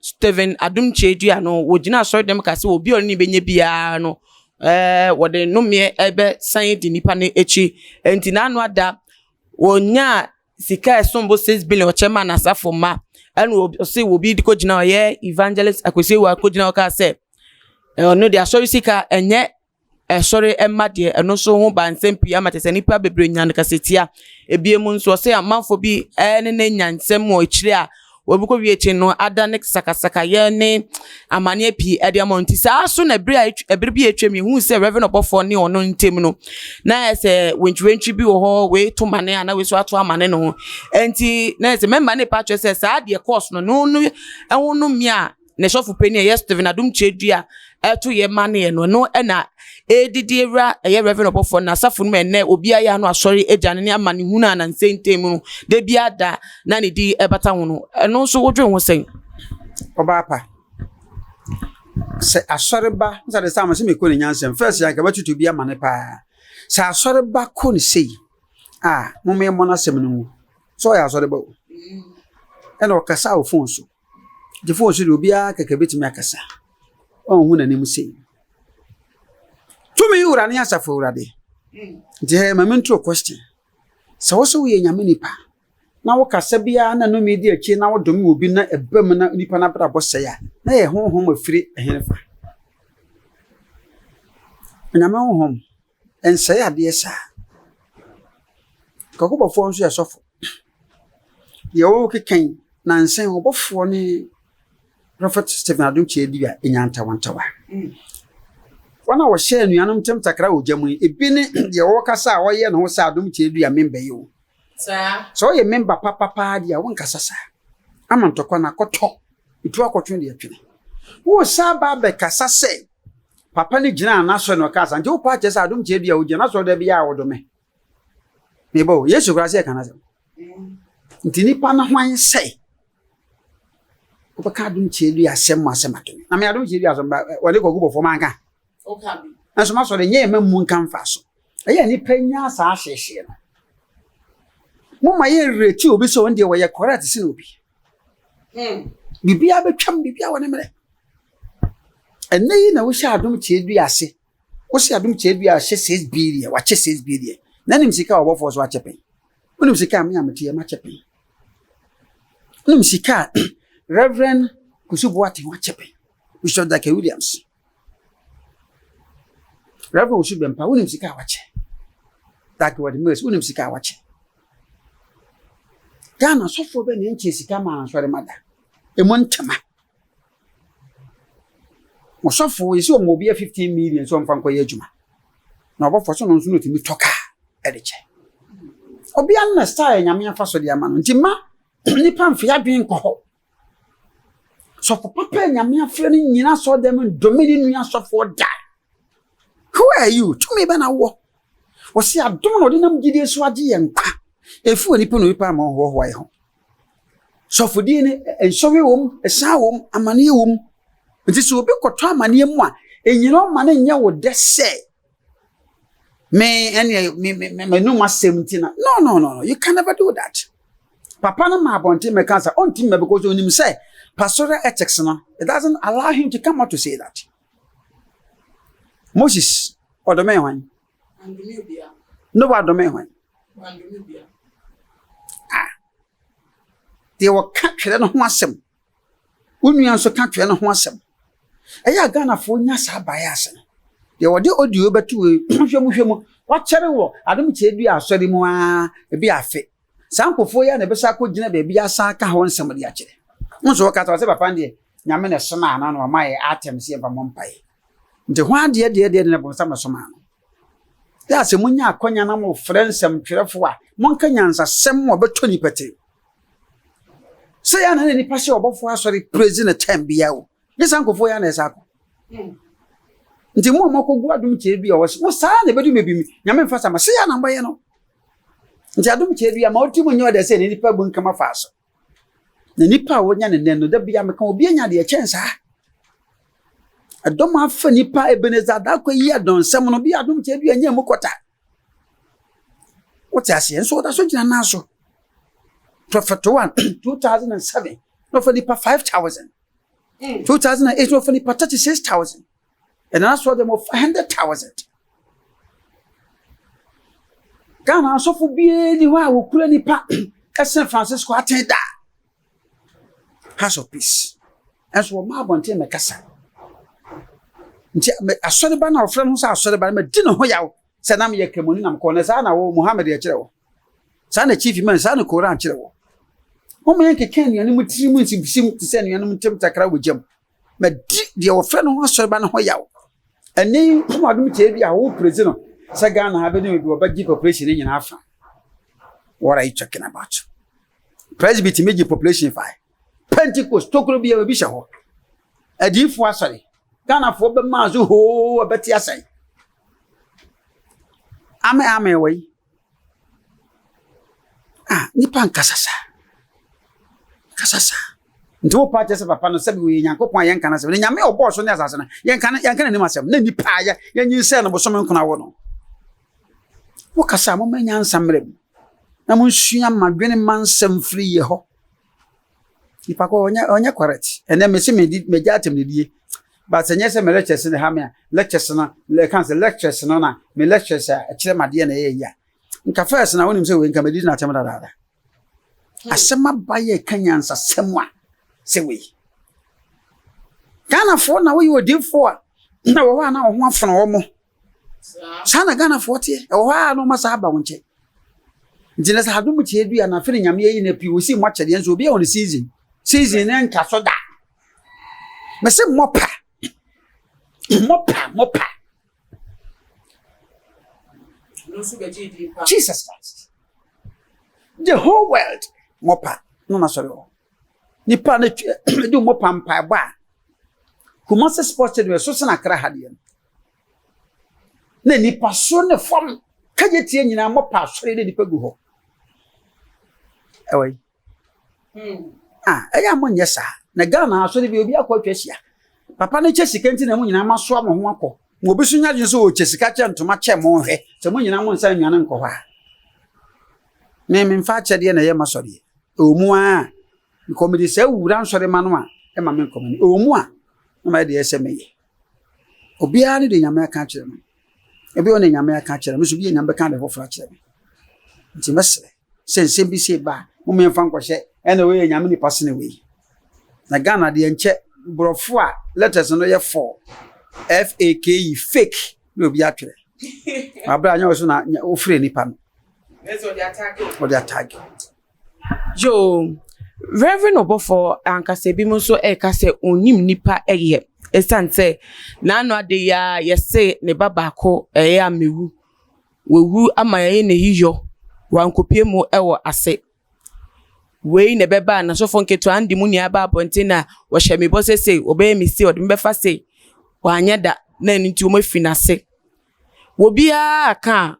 Stephen Adom Kyei-Duah no, wɔgyinaa asɔredɔm kaa sɛ obi a ɔne no bɛnya biara no, wɔde nnomeɛ bɛsan adi nnipa no akyi. Enti n'ano ada, ɔnyaa sika a ɛsom bo six billion ɔkyɛ maa n'asafo mma. Ɛna ɔse obi de kɔgyina hɔ, ɔyɛ Evangelist Akwasi Awuah kɔgyina hɔ kaa sɛ, ɔno deɛ asɔre sika ɛnyɛ ɛsɔre mma deɛ ɛno nso ho baa nsɛm pii ama kyerɛ sɛ nnipa bebree nya no kasatia. Ebiem nso ɔsɛ amanfoɔ bi ne no anya nsɛm wɔ akyire a wɔbɛkɔwie akyire no adane sakasakayɛ ne amaneɛ pii de ama wɔn. Nti saa so na ɛberɛ a ɛtw ɛberɛ bi a atwam yɛhuu sɛ Rev. Ɔbɔfoɔ ne ɔno ntam no, na ayɛ sɛ wentwiwentwi bi wɔ hɔ, wei to mane a na wei nso ato amane ne ho. Nti na ayɛ sɛ mɛma no repa akyerɛ sɛ saa deɛ ɛkɔɔ so no, no no ɛho no mmea a, ne sɔfo panyin a ɛyɛ Stephen Adom Kyerɛdua ɛto yɛ ma ne yɛ no ɛno ɛna ɛdidi awura ɛyɛ Reverend ɔbɔfoɔ na asafo no mu ɛnɛ obiara yɛ ano asɔre agya ne ne ama ne hunu a na nsɛntɛn mu no da biara da na ne di ɛbata ho no ɛno nso wodwe ho sɛn ɔbaapa sɛ asɔreba nsa de sam sɛ mekɔ ne nyansɛm fɛs yɛ akaba tutu bi ama ne paa sɛ asɔreba kɔ ne sei a mommɛmmɔ no asɛm no mu sɛ ɔyɛ asɔreba o ɛna ɔkasa wɔ fon so Gyefo wɔ soro deɛ, obiara kɛkɛ bɛtumi akasa, ɔnhu n'anim sei. Tumi wura ne asafo awurade. Nti hɛ ma mentro question. Sɛ wo so woyɛ nyame nipa, na wo kasa biara na nome di akyire na wodome wɔ bi na ɛba mu na nipa no abrabɔ sɛe a, na yɛ honhom afiri ɛhefa? Onyame honhom. Ɛnsɛe adeɛ saa. Kakubɔfoɔ nso yɛ sɔfo. Deɛ ɔrekeka yi, nansa yi ɔbɔfoɔ ne Prophet Stephen Adom Kyerɛdua nya ntawantawa. Wɔn a wɔhyɛ anuanom ntam takra wɔ gya mu yi, ebi ne deɛ ɔrekasa a ɔyɛ ne ho sɛ Adom Kyerɛdua memba yi o. Sɛ ɔyɛ memba papa paa deɛ a, wonkasa saa. Ama ntɔkwa no akɔtɔ, ɛtu akɔtwe deɛ ɛtwene. Woresan aba abɛkasa sɛ papa no gyinaa n'asɔre na ɔkaa sa nti wopaa kyerɛ sɛ adom kyerɛ bi a wogyina n'asɔre da bi a wɔdome mebɔ o yesu koraa sɛ ɛka no asɛm nti nipa no hwan sɛ wobɛka adom kyerɛ bi asɛm mu asɛm adome na me adom kyerɛ bi asɛm wɔde kɔgu bɔfoɔ manka nanso masɔre nyɛ ɛma mu nka mfa so ɛyɛ nipa nya saa hyehyee no moma yɛ nreti obi sɛ ɔno deɛ wɔyɛ correct sene obi Hmm. Biribiara bɛtwam, biribiara wɔ ne mmerɛ. Ɛnɛ yi na wohyɛ adom kyerɛ dua ase. Wohyɛ adom kyerɛ dua ahyɛ six billion, wakyɛ six billion. Na nim sika a ɔbɔfoɔ so akyɛ pɛn. Wonim sika a me a mete yɛ makyɛ pɛn. Wonim sika a Reverend Kusubo ate ho akyɛ pɛn. Bishop Daka Williams. Rev. Osu Bempah, wonim sika a wakyɛ. Dake wɔde Mills, wonim sika a wakyɛ. Ghana sɔfoɔ bɛ na ɛnkyɛ sika maa nsɔre ma da. Ɛmu ntɛma. Ɔsɔfoɔ yɛsi wɔn obi a 15 million sɛ ɔmfa nkɔyɛ adwuma. Na ɔbɔfoɔ so no nso na ɔtumi tɔ kaa ɛde kyɛ. Ɔbea no na style nyame afa so de ama no. Nti ma nipa mfe adwene nkɔ hɔ. Sɔfo papa a Nyame afrɛ no nyina asɔɔdan mu ndome ne nua asɔfoɔ da. Who are you? Tumi bɛ na wɔ? Wɔsi adom na ɔde nam gyidie so agye yɛn nkwa. Efi onipa na onipa ama ɔhoahoa yɛ ho. Sɔfodie ne nsɔhwɛ wɔ mu, ɛsan wɔ mu, amaneɛ wɔ mu. Nti sɛ obi kɔtɔ amaneɛ mu a, nyina ɔma no nyɛ wo dɛ sɛ me ɛneɛ me me me m'anum asɛm nti na no no no no you can never do that papa no ma abɔnten mɛka sɛ ɔnti mɛ because onim sɛ pasora ethics no it doesn't allow him to come out to say that moses ɔdɔmɛ hwan no wa dɔmɛ hwan ah deɛ wɔka twerɛ no ho asɛm wo nua nso ka twɛ ne ho asɛm. Ɛyɛ a Ghanafoɔ nya saa bias no. Deɛ ɔde audio bɛto wei, hwɛ mu hwɛ mu, wakyɛre wɔ Adom Tadua Asɔre mu ara, ebi afe. Saa nkurɔfoɔ yi ara na ɛbɛsan akɔgyina baabi asan aka hɔ nsɛm de akyerɛ. Wohu sɛ wɔka sɛ, wɔse papa no deɛ Nyame na ɛsomaa no na wama yɛn atɛm sɛ yɛmfa mmɔ mpaeɛ. Nti hwan deɛ deɛ deɛ na bonsam na ɛsomaa no? Daa sɛ monya akwanya na mofrɛ nsɛmtwerɛfoɔ a, monka nyansasɛm a ɔbɛtɔ nnipa tirim. Sɛ yɛ na na nnipa hyɛ ɔbɔfoɔ asɔre praise no time biara o, nyɛ saa nkurɔfoɔ yɛ na ɛsɛ akɔ. Nti mo a moakɔgu adom kyerɛ bi a ɔwɔ se, wo saa na ɛbɛdu mebimi, nyame mfa sa ma, sɛ yɛ na mbɛyɛ no. Nti adom kyerɛ bi a ma ɔtirim nyɛ ɔdɛ sɛ na nnipa bu nkama faa so. Na nipa a wɔnya no nnɛ no, da biara meka obi anya deɛ ɛkyɛn saa. Ɛdɔm afa nipa Ebenezer Darko yi adɔnsɛm no bi adom kyɛ bi anya mu kɔta. Wote aseɛ nso ɔda so gyina nan so. Prophet one two thousand and seven na ɔfa nipa five thousand. Hmm. Two thousand and eight na ɔfa nipa thirty six thousand. And that's what them for hundred thousand. Ghana asɔfo biara ni hɔ a wɔkura nipa ɛsɛn Francisco atɛn da House of Peace ɛnso wɔn mmaa abɔnten na kasa nti asɔreba na ɔfrɛ no ho sɛ asɔreba na mɛdi ne ho yaw sɛ nam yɛ kɛmɔni nam kɔn na saa na wɔ Muhammad yɛ kyerɛ wɔ saa na chief man saa na Koran kyerɛ wɔ wɔn yɛ nkeka nnuane mu tiri mu nsibisi te sɛ nnuane mu ntɛm takra wɔ gyam madi deɛ wɔfrɛ no ho asɔreba no ho yaw. Ɛne hom adom kyɛ bi a worepresi no sɛ Ghana ha bɛduru bi wɔbɛgye population no nyinaa fa. What are you talking about? Presby tumi gye population fa. Pentecost tokuro bi a obi hyɛ hɔ. Adiyifoɔ asɔre. Ghanafoɔ bɛmaa so hoo ɛbɛte asɛe. Ame ame wɔ yi. Ah, nnipa nkasa saa. Nkasa saa. Nti wo paa kyɛ sɛ papa no sɛbi wɔyɛ Nyankopɔn a yɛnka no asɛm. Ne Nyame a ɔbɔɔ so ne asase no, yɛnka no yɛnka n'anim asɛm. Na nnipa a yɛ yɛnyin sɛ no bosome nkona wɔ no. Wo kasa a moma nyansa mmerɛ mu. Na monsua ma dwene ma nsɛm firi yɛ hɔ. Nipa ko ɔnyɛ ɔnyɛ correct. Ɛnɛ mesi me di me gya atem ne die. But sɛ nyɛ sɛ me lectures ne ha me a lectures no le kan sɛ lectures no na me lectures a ɛkyerɛ ma deɛ na ɛyɛ yi a. Nka first na wonim sɛ wei nka medi n'atem dadaada. Hmm. Asɛm aba yɛ ka nyansasɛm a sɛ wei. Ghanafoɔ na woyɛ odiifoɔ a na wɔ hɔ a na wɔn ho afɔn wɔn. saa na ghanafoɔ teɛ ɛwɔ hɔ a na ɔma saa aba wo nkyɛn nti na sɛ adom tie dua na afei ne nyame ayi na pii wɔsi mmɔ akyɛdeɛ nso obi a wɔn season season ne nka so da mɛsɛ mmɔ pa mmɔ pa mmɔ pa jesus christ the whole world mmɔ pa no na sɔre hɔ nipa ne twi ɛdi mmɔ pa mpaebɔ a kumase sports stadium ɛso sena kra ha deɛ no na nipa soro ne fam kagye tie nyinaa mɔpa asɔre na nipa gu hɔ ɛwɔ yi hmm. a ah, ɛyɛ a monyɛ saa na ghana asɔre bi obi akɔ atwa ahyia papa no kyɛ sika nti na mo nyinaa masoa mo ho akɔ na obi so nya adwene sɛ ɔkyɛ sika kyɛ ntoma kyɛ mo nhwɛ sɛ mo nyinaa mo nsa nnuane nkɔ hɔ a me memfa akyɛdeɛ na ɛyɛ masɔreɛ ɛwɔ mu a nkɔmede saa wura nsɔre ma no a ɛma me nkɔmene ɛwɔ mu a na mayɛ deɛ ɛsɛ meyɛ Obiara ne deɛ Nyame aka akyerɛ no. Ebi ɔne Nyame aka akyerɛ no, me so bi a Nyame bɛka ade foforɔ akyerɛ me. Nti mɛsrɛ sɛ nsɛm bi sei ba a, moma yɛmfa nkɔhyɛ ɛna wei yɛ Nyame nipa sene wei. Na Ghana deɛ nkyɛ borɔfo a letters no yɛ four, F-A-K-E, fake, na obi atwerɛ. Aberɛ a nyɛ ɔso na wofrɛ nipa no. Ɔde atake. Yoo, Reverend ɔbɔfoɔ ankasa ebi mo nso ɛka sɛ ɔnnim nnipa yɛ ɛsiane sɛ n'ano ade yi ara yɛse ne ba baako ɛyɛ a mewu wawu ama yɛayɛ n'ayiyɔ wankɔpue mu wɔ ase wei na ɛbɛba a n'asɔfoɔ nketewa no de mo nyinaa ba abɔnten na wɔhyɛ me bɔ sɛ sei wɔbɛyɛ me sei wɔde me bɛfa sei wanyɛ da na ɛno nti wɔafiri n'ase obiara ka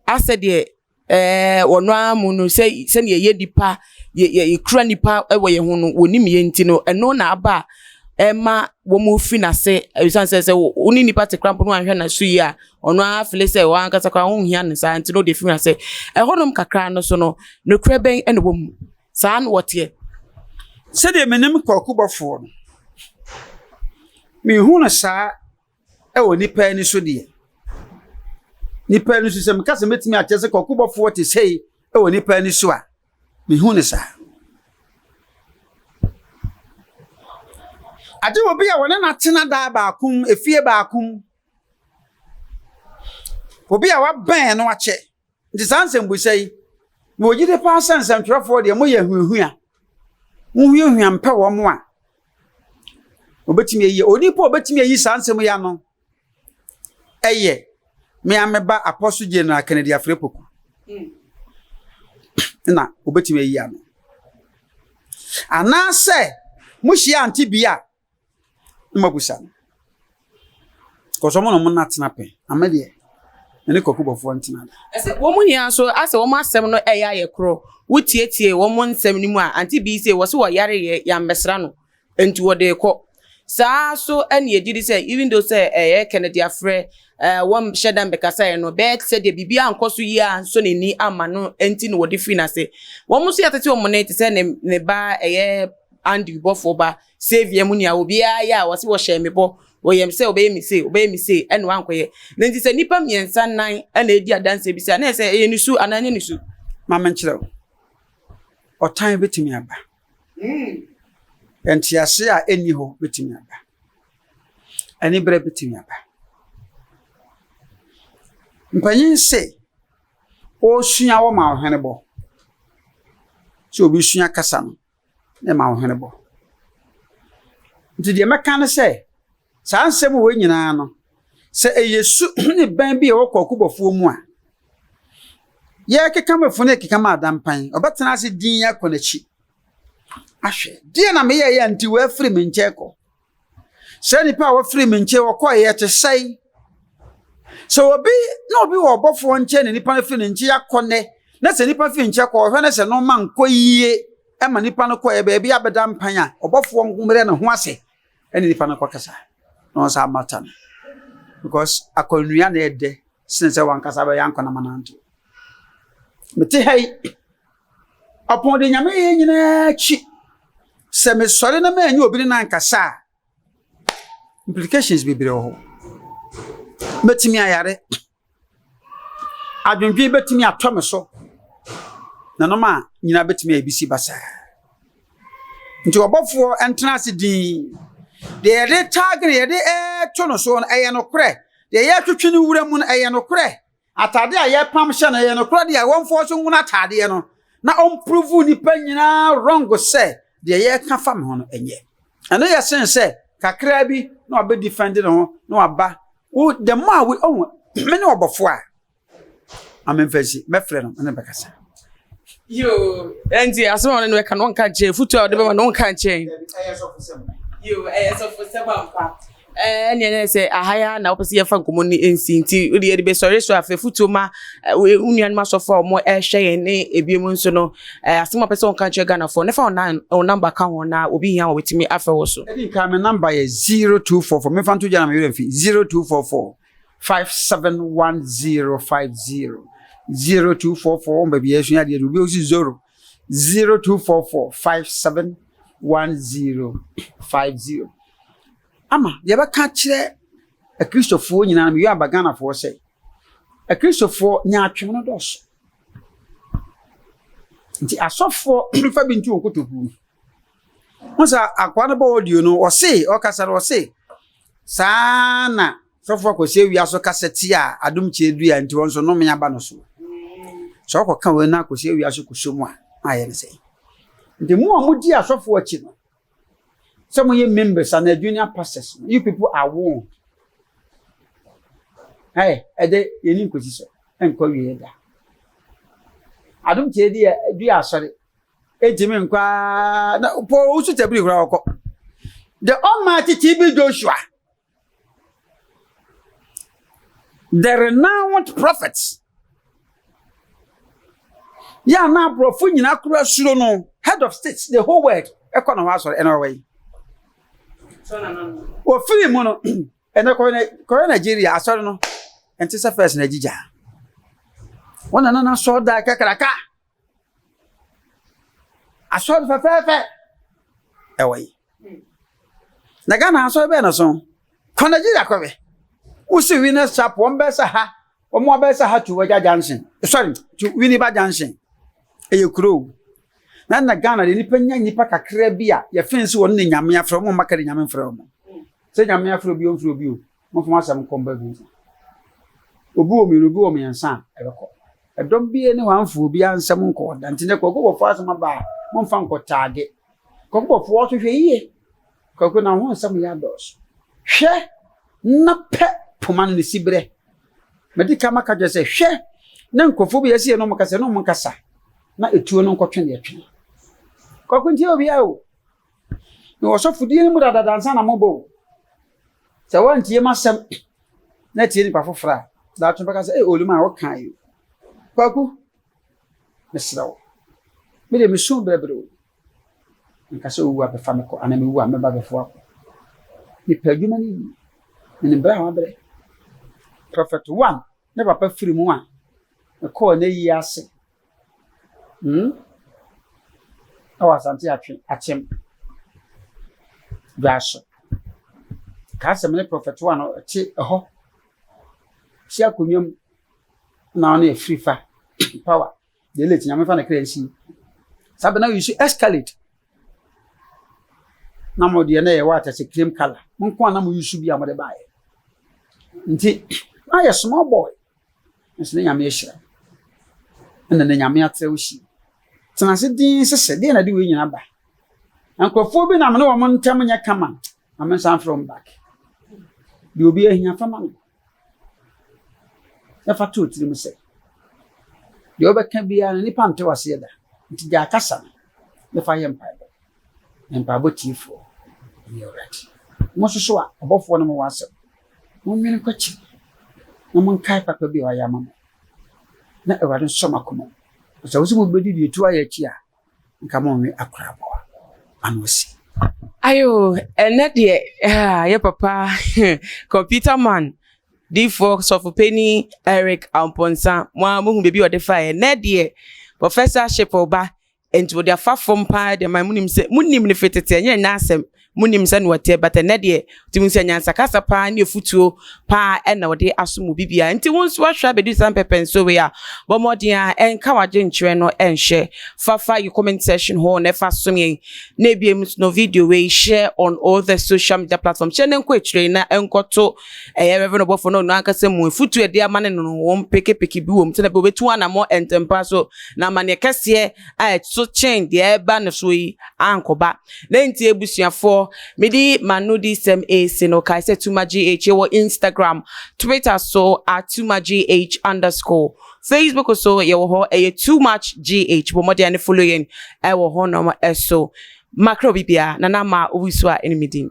a asɛ deɛ Ɛɛ, wɔn ara mu no, sɛ sɛnea yɛyɛ nnipa, yɛ yɛ yɛkura nnipa wɔ yɛn ho no, wɔnim yɛn nti no, ɛno na aba a ɛma wɔrefi no ase ɛsiane sɛ sɛ wo ne nipa te koraa mpo na wanhwɛ no so yie a, ɔno ara fili sɛ wo ankasa koraa wonhia no saa nti na ɔde afi no ase. Ɛhɔnom kakra no so no, nokorɛ bɛn na ɛwɔ mu? Saa na wɔteɛ. Sɛdeɛ menim kwaku bɔfoɔ no, mehu no saa. Wɔ nnipa ani so deɛ, nnipa ani so sɛ meka sɛ mɛtumi akyɛ sɛ kɔkobɔfoɔ te sɛi wɔ nnipa ani so a, mehu no saa. Agye wɔ bi a wɔne no atena daa baako mu, efie baako mu. Obi a wabɛn no akyɛ. Nti saa nsɛmbisa yi, mewɔ gyidi paa sɛ nsɛntwerɛfoɔ deɛ moyɛ ahuahua. Mohuahua mpɛ wɔn a wɔbɛtumi ayi. Onipa a ɔbɛtumi ayi saa nsɛm yi ano ɛyɛ me ara me ba Apostle General Kennedy Afrɛ-Poku na ɔbɛtumi ayi ano. Anaasɛ mohyia ante bi a Mma kusa no. Cause ɔmo na ɔmo nna tena pɛ. Na me deɛ, me ne Kwaku Bɔfoɔ ntena da. Ɛsɛ wɔn nyinaa nso asɛ wɔn asɛm no ɛyɛ ayɛ korɔ wo tietie wɔn nsɛm no mu a ante bii se wɔse wɔyareeɛ yammɛsra no nti wɔde rekɔ saa so ɛne ɛgye di sɛ even though sɛ ɛyɛ Kennedy afrɛ ɛɛ wɔn hyɛ da mbɛkasaeɛ no bɛyɛ te sɛ deɛ biribi ankɔ so yie ansɔ n'ani amma no nti na wɔde firi n'ase wɔn nso yɛtete wɔn ne te sɛ ne ne ba ɛyɛ Andy Bɔfoɔ ba Saviour mu nea obiara yɛ a wɔse wɔhyɛɛ me bɔ wɔ yam sɛ ɔbɛyɛ me sei, ɔbɛyɛ me sei, ɛna wankɔyɛ. Na nti sɛ nnipa mmiɛnsa nnan na ɛdi adanseɛ bi sɛ a, na ɛsɛ ɛyɛ ne su anaa ɛnyɛ ne su. Ma menkyerɛ wo, ɔtan bɛtumi aba. Nteaseɛ a ɛnni hɔ bɛtumi aba. Aniberɛ bɛtumi aba. Mpanyin se ɔresua wɔma ɔhwenebɔ sɛ obɛsua kasa no na ɛma wo hwene bɔ. Nti deɛ mɛka ne sɛ, saa nsɛm wei nyinaa no, sɛ ɛyɛ su ne bɛn bi a ɛwɔ kɔkobɔfoɔ mu a, yɛrekeka mafunu rekeka ma adampan, ɔbɛtena ase dinn akɔ n'akyi ahwɛ. Deɛ na meyɛeɛ a nti wafiri me nkyɛn kɔ? Sɛ nnipa a wɔfiri me nkyɛn wɔkɔe yɛ te sɛn? Sɛ obi na obi wɔ ɔbɔfoɔ nkyɛn na nnipa no firi ne nkyɛn akɔ nnɛ, na sɛ nnipa firi nkyɛn kɔ ɔhwɛ no sɛ no ma nkɔ yie ma nnipa no kɔɛ baabi abɛda mpan a, ɔbɔfoɔ mmerɛ ne ho ase ɛne nnipa no kɔkasa na ɔnsa amata no. Because akɔnnua na ɛdɛ sene sɛ wankasa bɛyɛ ankonam ananto. Mete ha yi. Ɔpon de Nyame yɛ nyinaa akyi. Sɛ me sɔre na mɛnye obi ne no ankasa a, implications bebree wɔ hɔ. Mɛtumi ayare, adwendwen bɛtumi atɔ me so, na nnoɔma nyinaa bɛtumi ayɛ bisi basaa. Nti ɔbɔfoɔ ntena ase dinn. Deɛ yɛde target, deɛ yɛde to no soɔ no ɛyɛ nokorɛ, deɛ yɛretwetwe no wura mu no ɛyɛ nokorɛ. Atade a yɛpam hyɛ no, ɛyɛ nokorɛ deɛ wɔmfa ɔso nwono atadeɛ no na ɔmprovu nnipa nyinaa wrong sɛ deɛ yɛka fa me ho no ɛnyɛ. Ɛno yɛ sen sɛ kakraa bi na wabɛ defend ne ho na waba wo the more a wo ɔho me ne ɔbɔfoɔ a ma memfa nsi mɛfrɛ no ne bɛkasa. Yoo, ɛnti asɛm a ɔne no ɛka no ɔnka nkyɛn, futuo a ɔde bɛma no ɔnka nkyɛn. Yoo, ɛyɛ sɔfosɛm ampa. Ɛɛ ɛneɛ na ɛyɛ sɛ aha yi ara na wopɛ sɛ yɛfa nkɔmmɔ no nsi nti wode yɛde bɛsɔre so a fa afotuo ma wo nuanom asɔfo a wɔn ɛrehwɛ yɛn ne ebiom nso no asɛm a wopɛ sɛ wɔka kyerɛ Ghanafoɔ no fa wo namba ka ho na obi hia a wɔbɛtumi afrɛ wo so. Ɛdi nkan me namba yɛ 0244 memfa nto gya na me werɛ mfi 0244 571 050 0244 wɔn baabi a yɛsua adeɛ no obi ɔsi zoro 0244571050. Ama yɛbɛka akyerɛ Akristofoɔ nyinaa, meyɔ aba Ghanafoɔ sɛ, Akristofoɔ nyaatwom no dɔɔso. Nti asɔfoɔ mfa bi nto wɔn kotokuo mu. Ho sɛ akoa no bɔ audio no, ɔse, ɔkasa no ɔse, saa na Sɔfo Akwasi Awia so kasa tia Adom Kyie dua nti wɔn nso nnome aba no so. Sɛ ɔkɔka wei na Akwasi Awia so kɔhyɛ mu a, na ayɛ no sɛn? Nti mo a modi asɔfo akyi no, sɛ moyɛ members anaa junior pastors no, you people are warned. Ɛɛ, ɛdɛ yɛni nkosi so, ɛnkɔ wie da. Adom Kyie di dua asɔre, ɛntumi nkɔ ara na pɔw wosu tabiri koraa ɔkɔ. The Almighty TB Joshua. The renowned prophet. Yɛ a na aborɔfo nyinaa kora suro no, head of state, the whole world, ɛkɔ na hɔ asɔre ɛna ɔwɔ yi. Wɔfiri mu no, ɛnɛ kɔyɛ Nigeria asɔre no, ɛnte sɛ fɛs na agyigya. Wɔn na na asɔre da kakraka. Asɔr fɛfɛɛfɛ wɔ yi. Na Ghana asɔr bɛyɛ no so. Kɔ Nigeria kɔ hwɛ. Wo si Winners Chapel, wɔn bɛyɛ sɛ ha, wɔn abɛyɛ sɛ ha to Wagya Junction. Sorry, to Winneba Junction. Ɛyɛ kurow. Na na Ghana de nipa nya nipa kakra bi a yɛfɛn si wɔn ne Nyame afrɛ wɔn mma ka de Nyame mfrɛ wɔn. Sɛ Nyame afrɛ obi a ɔmfrɛ obi o. Momfa mo asɛm nkɔ mba du fa. Obi wɔ mmienu, obi wɔ mmiɛnsa a, ɛbɛkɔ. Ɛdɔm biara nni hɔ a amfa obiara nsɛm nkɔ ɔda. Nti nnɛ Kwakuubɔfoɔ asɛm aba a, momfa nkɔtaage. Kwakuubɔfoɔ nso hwɛ yie. Kwaku na wo ho nsɛm yɛ adɔɔso. Hwɛ na pɛ poma no ne siberɛ. Madi kan maka kyerɛ sɛ, hwɛ na nkurɔfoɔ bi a ɛsɛ yɛne wɔn kasa, yɛne wɔn nkasa na etuo no nkɔtwe deɛ ɛtwe. Kwaku ntie obiara o. Mewɔ ɔsɔfodie no mu dadada ansa na mobɔ o. Sɛ woantie m'asɛm na atie nipa foforɔ a, daakye bɛka sɛ, ee Olimaa wokaa yi o. Kwaku, mesrɛ wo, me deɛ mesu brɛbrɛ o. Nka sɛ wowu a bɛfa me kɔ anaa mewu a mɛba bɛfa wo akɔ. Mepɛ adwuma no yie. Menim berɛ a wabrɛ. Prɔfɛt One ne papa firi mu a mekɔɔ n'ayie ase Hmm? Ɛwɔ Asante Atwe, Akyem. Dwaso. Kaa sɛ me ne Prɔfɛt One no te ɛhɔ. Te akonnwa mu na ɔne afiri fa power deɛ late nyame fa ne kra nsi saa bɛ na yi so escalate na mo deɛ na yɛ wɔ atɛsɛ cream color mo nko a na mo yi so bi a mo de baayɛ nti na yɛ small boy Nanso ne Nyame ahyira wo. Ɛna ne Nyame atrɛ wo hyia. Tena ase dinn hyehyɛ. Deɛ na ɛde wei nyina ba? Nkurɔfoɔ bi na me ne wɔn ntam nyɛ kama. Ma me nsa mfrɛ wɔn back. Deɛ obi ahia fa ma no. Na fa to tirim sɛ deɛ wobɛka biara no nipa nte waseɛ da. Nti gyae kasa no na fa yɛ mpaebɔ. Mpaebɔ Tiefoɔ, Wone Awurade. Mososo a, ɔbɔfoɔ no ma w'asɛm. Monwene kɔ akyiri, na monkae papa bi a wayɛ ama mo, na Awurade nsɔ mo akoma mu. Na sɛ wose mobɛdi deɛ ɛtu ayɛ akyi a, nka monwe akora aboa ano asi. Ayoo ɛnɛ deɛ haa yɛ papa computer man difoɔ sɔfopanin Eric Amponsah mo ara mohu baabi a ɔde faeɛ ɛnɛ deɛ professorship reba Enti wɔde afa fam paa de mae. Munim sɛ munim no fi tete, ɛnyɛ nnɛ asɛm. Munim sɛnea ɔteɛ, but ɛnnɛ deɛ, tumi hu sɛ nyansa kasa paa ne afutuo paa na ɔde aso mo biribiara. Enti wo nso ahwɛ abɛdu saa mpɛpɛnsoɔ wei a, bɔ mmɔden ara nka w'adwenkyerɛ no nhwɛ. Fa fa yɛn comment section hɔ na fa som yɛn. Na ebiem nso no, video wei hyɛ on all the social media platforms. Hyɛ na ɛnkɔ akyire na ɛnkɔto Ɛyɛ Rev. Ɔbɔfo no ɔno ankasa mu afotu a ɛde ama no no, wɔn pekepeke bi wom sɛnea ɛbɛyɛ a obetu anammɔn ntɛmpa so na amanneɛ kɛseɛ a ɛso kyɛn deɛ ɛreba no so yi ankɔba. Dɛn nti abusuafoɔ? Mede m'anodisɛm resi no, kae sɛ Tuma GH, yɛwɔ Instagram, Twitter so at Tuma GH underscore, Facebook so yɛwɔ hɔ, ɛyɛ Too Much GH, bɔ mmɔden ne follow yɛn wɔ hɔnom so. Makra obi biara, na na ma obi so a ɛne me din.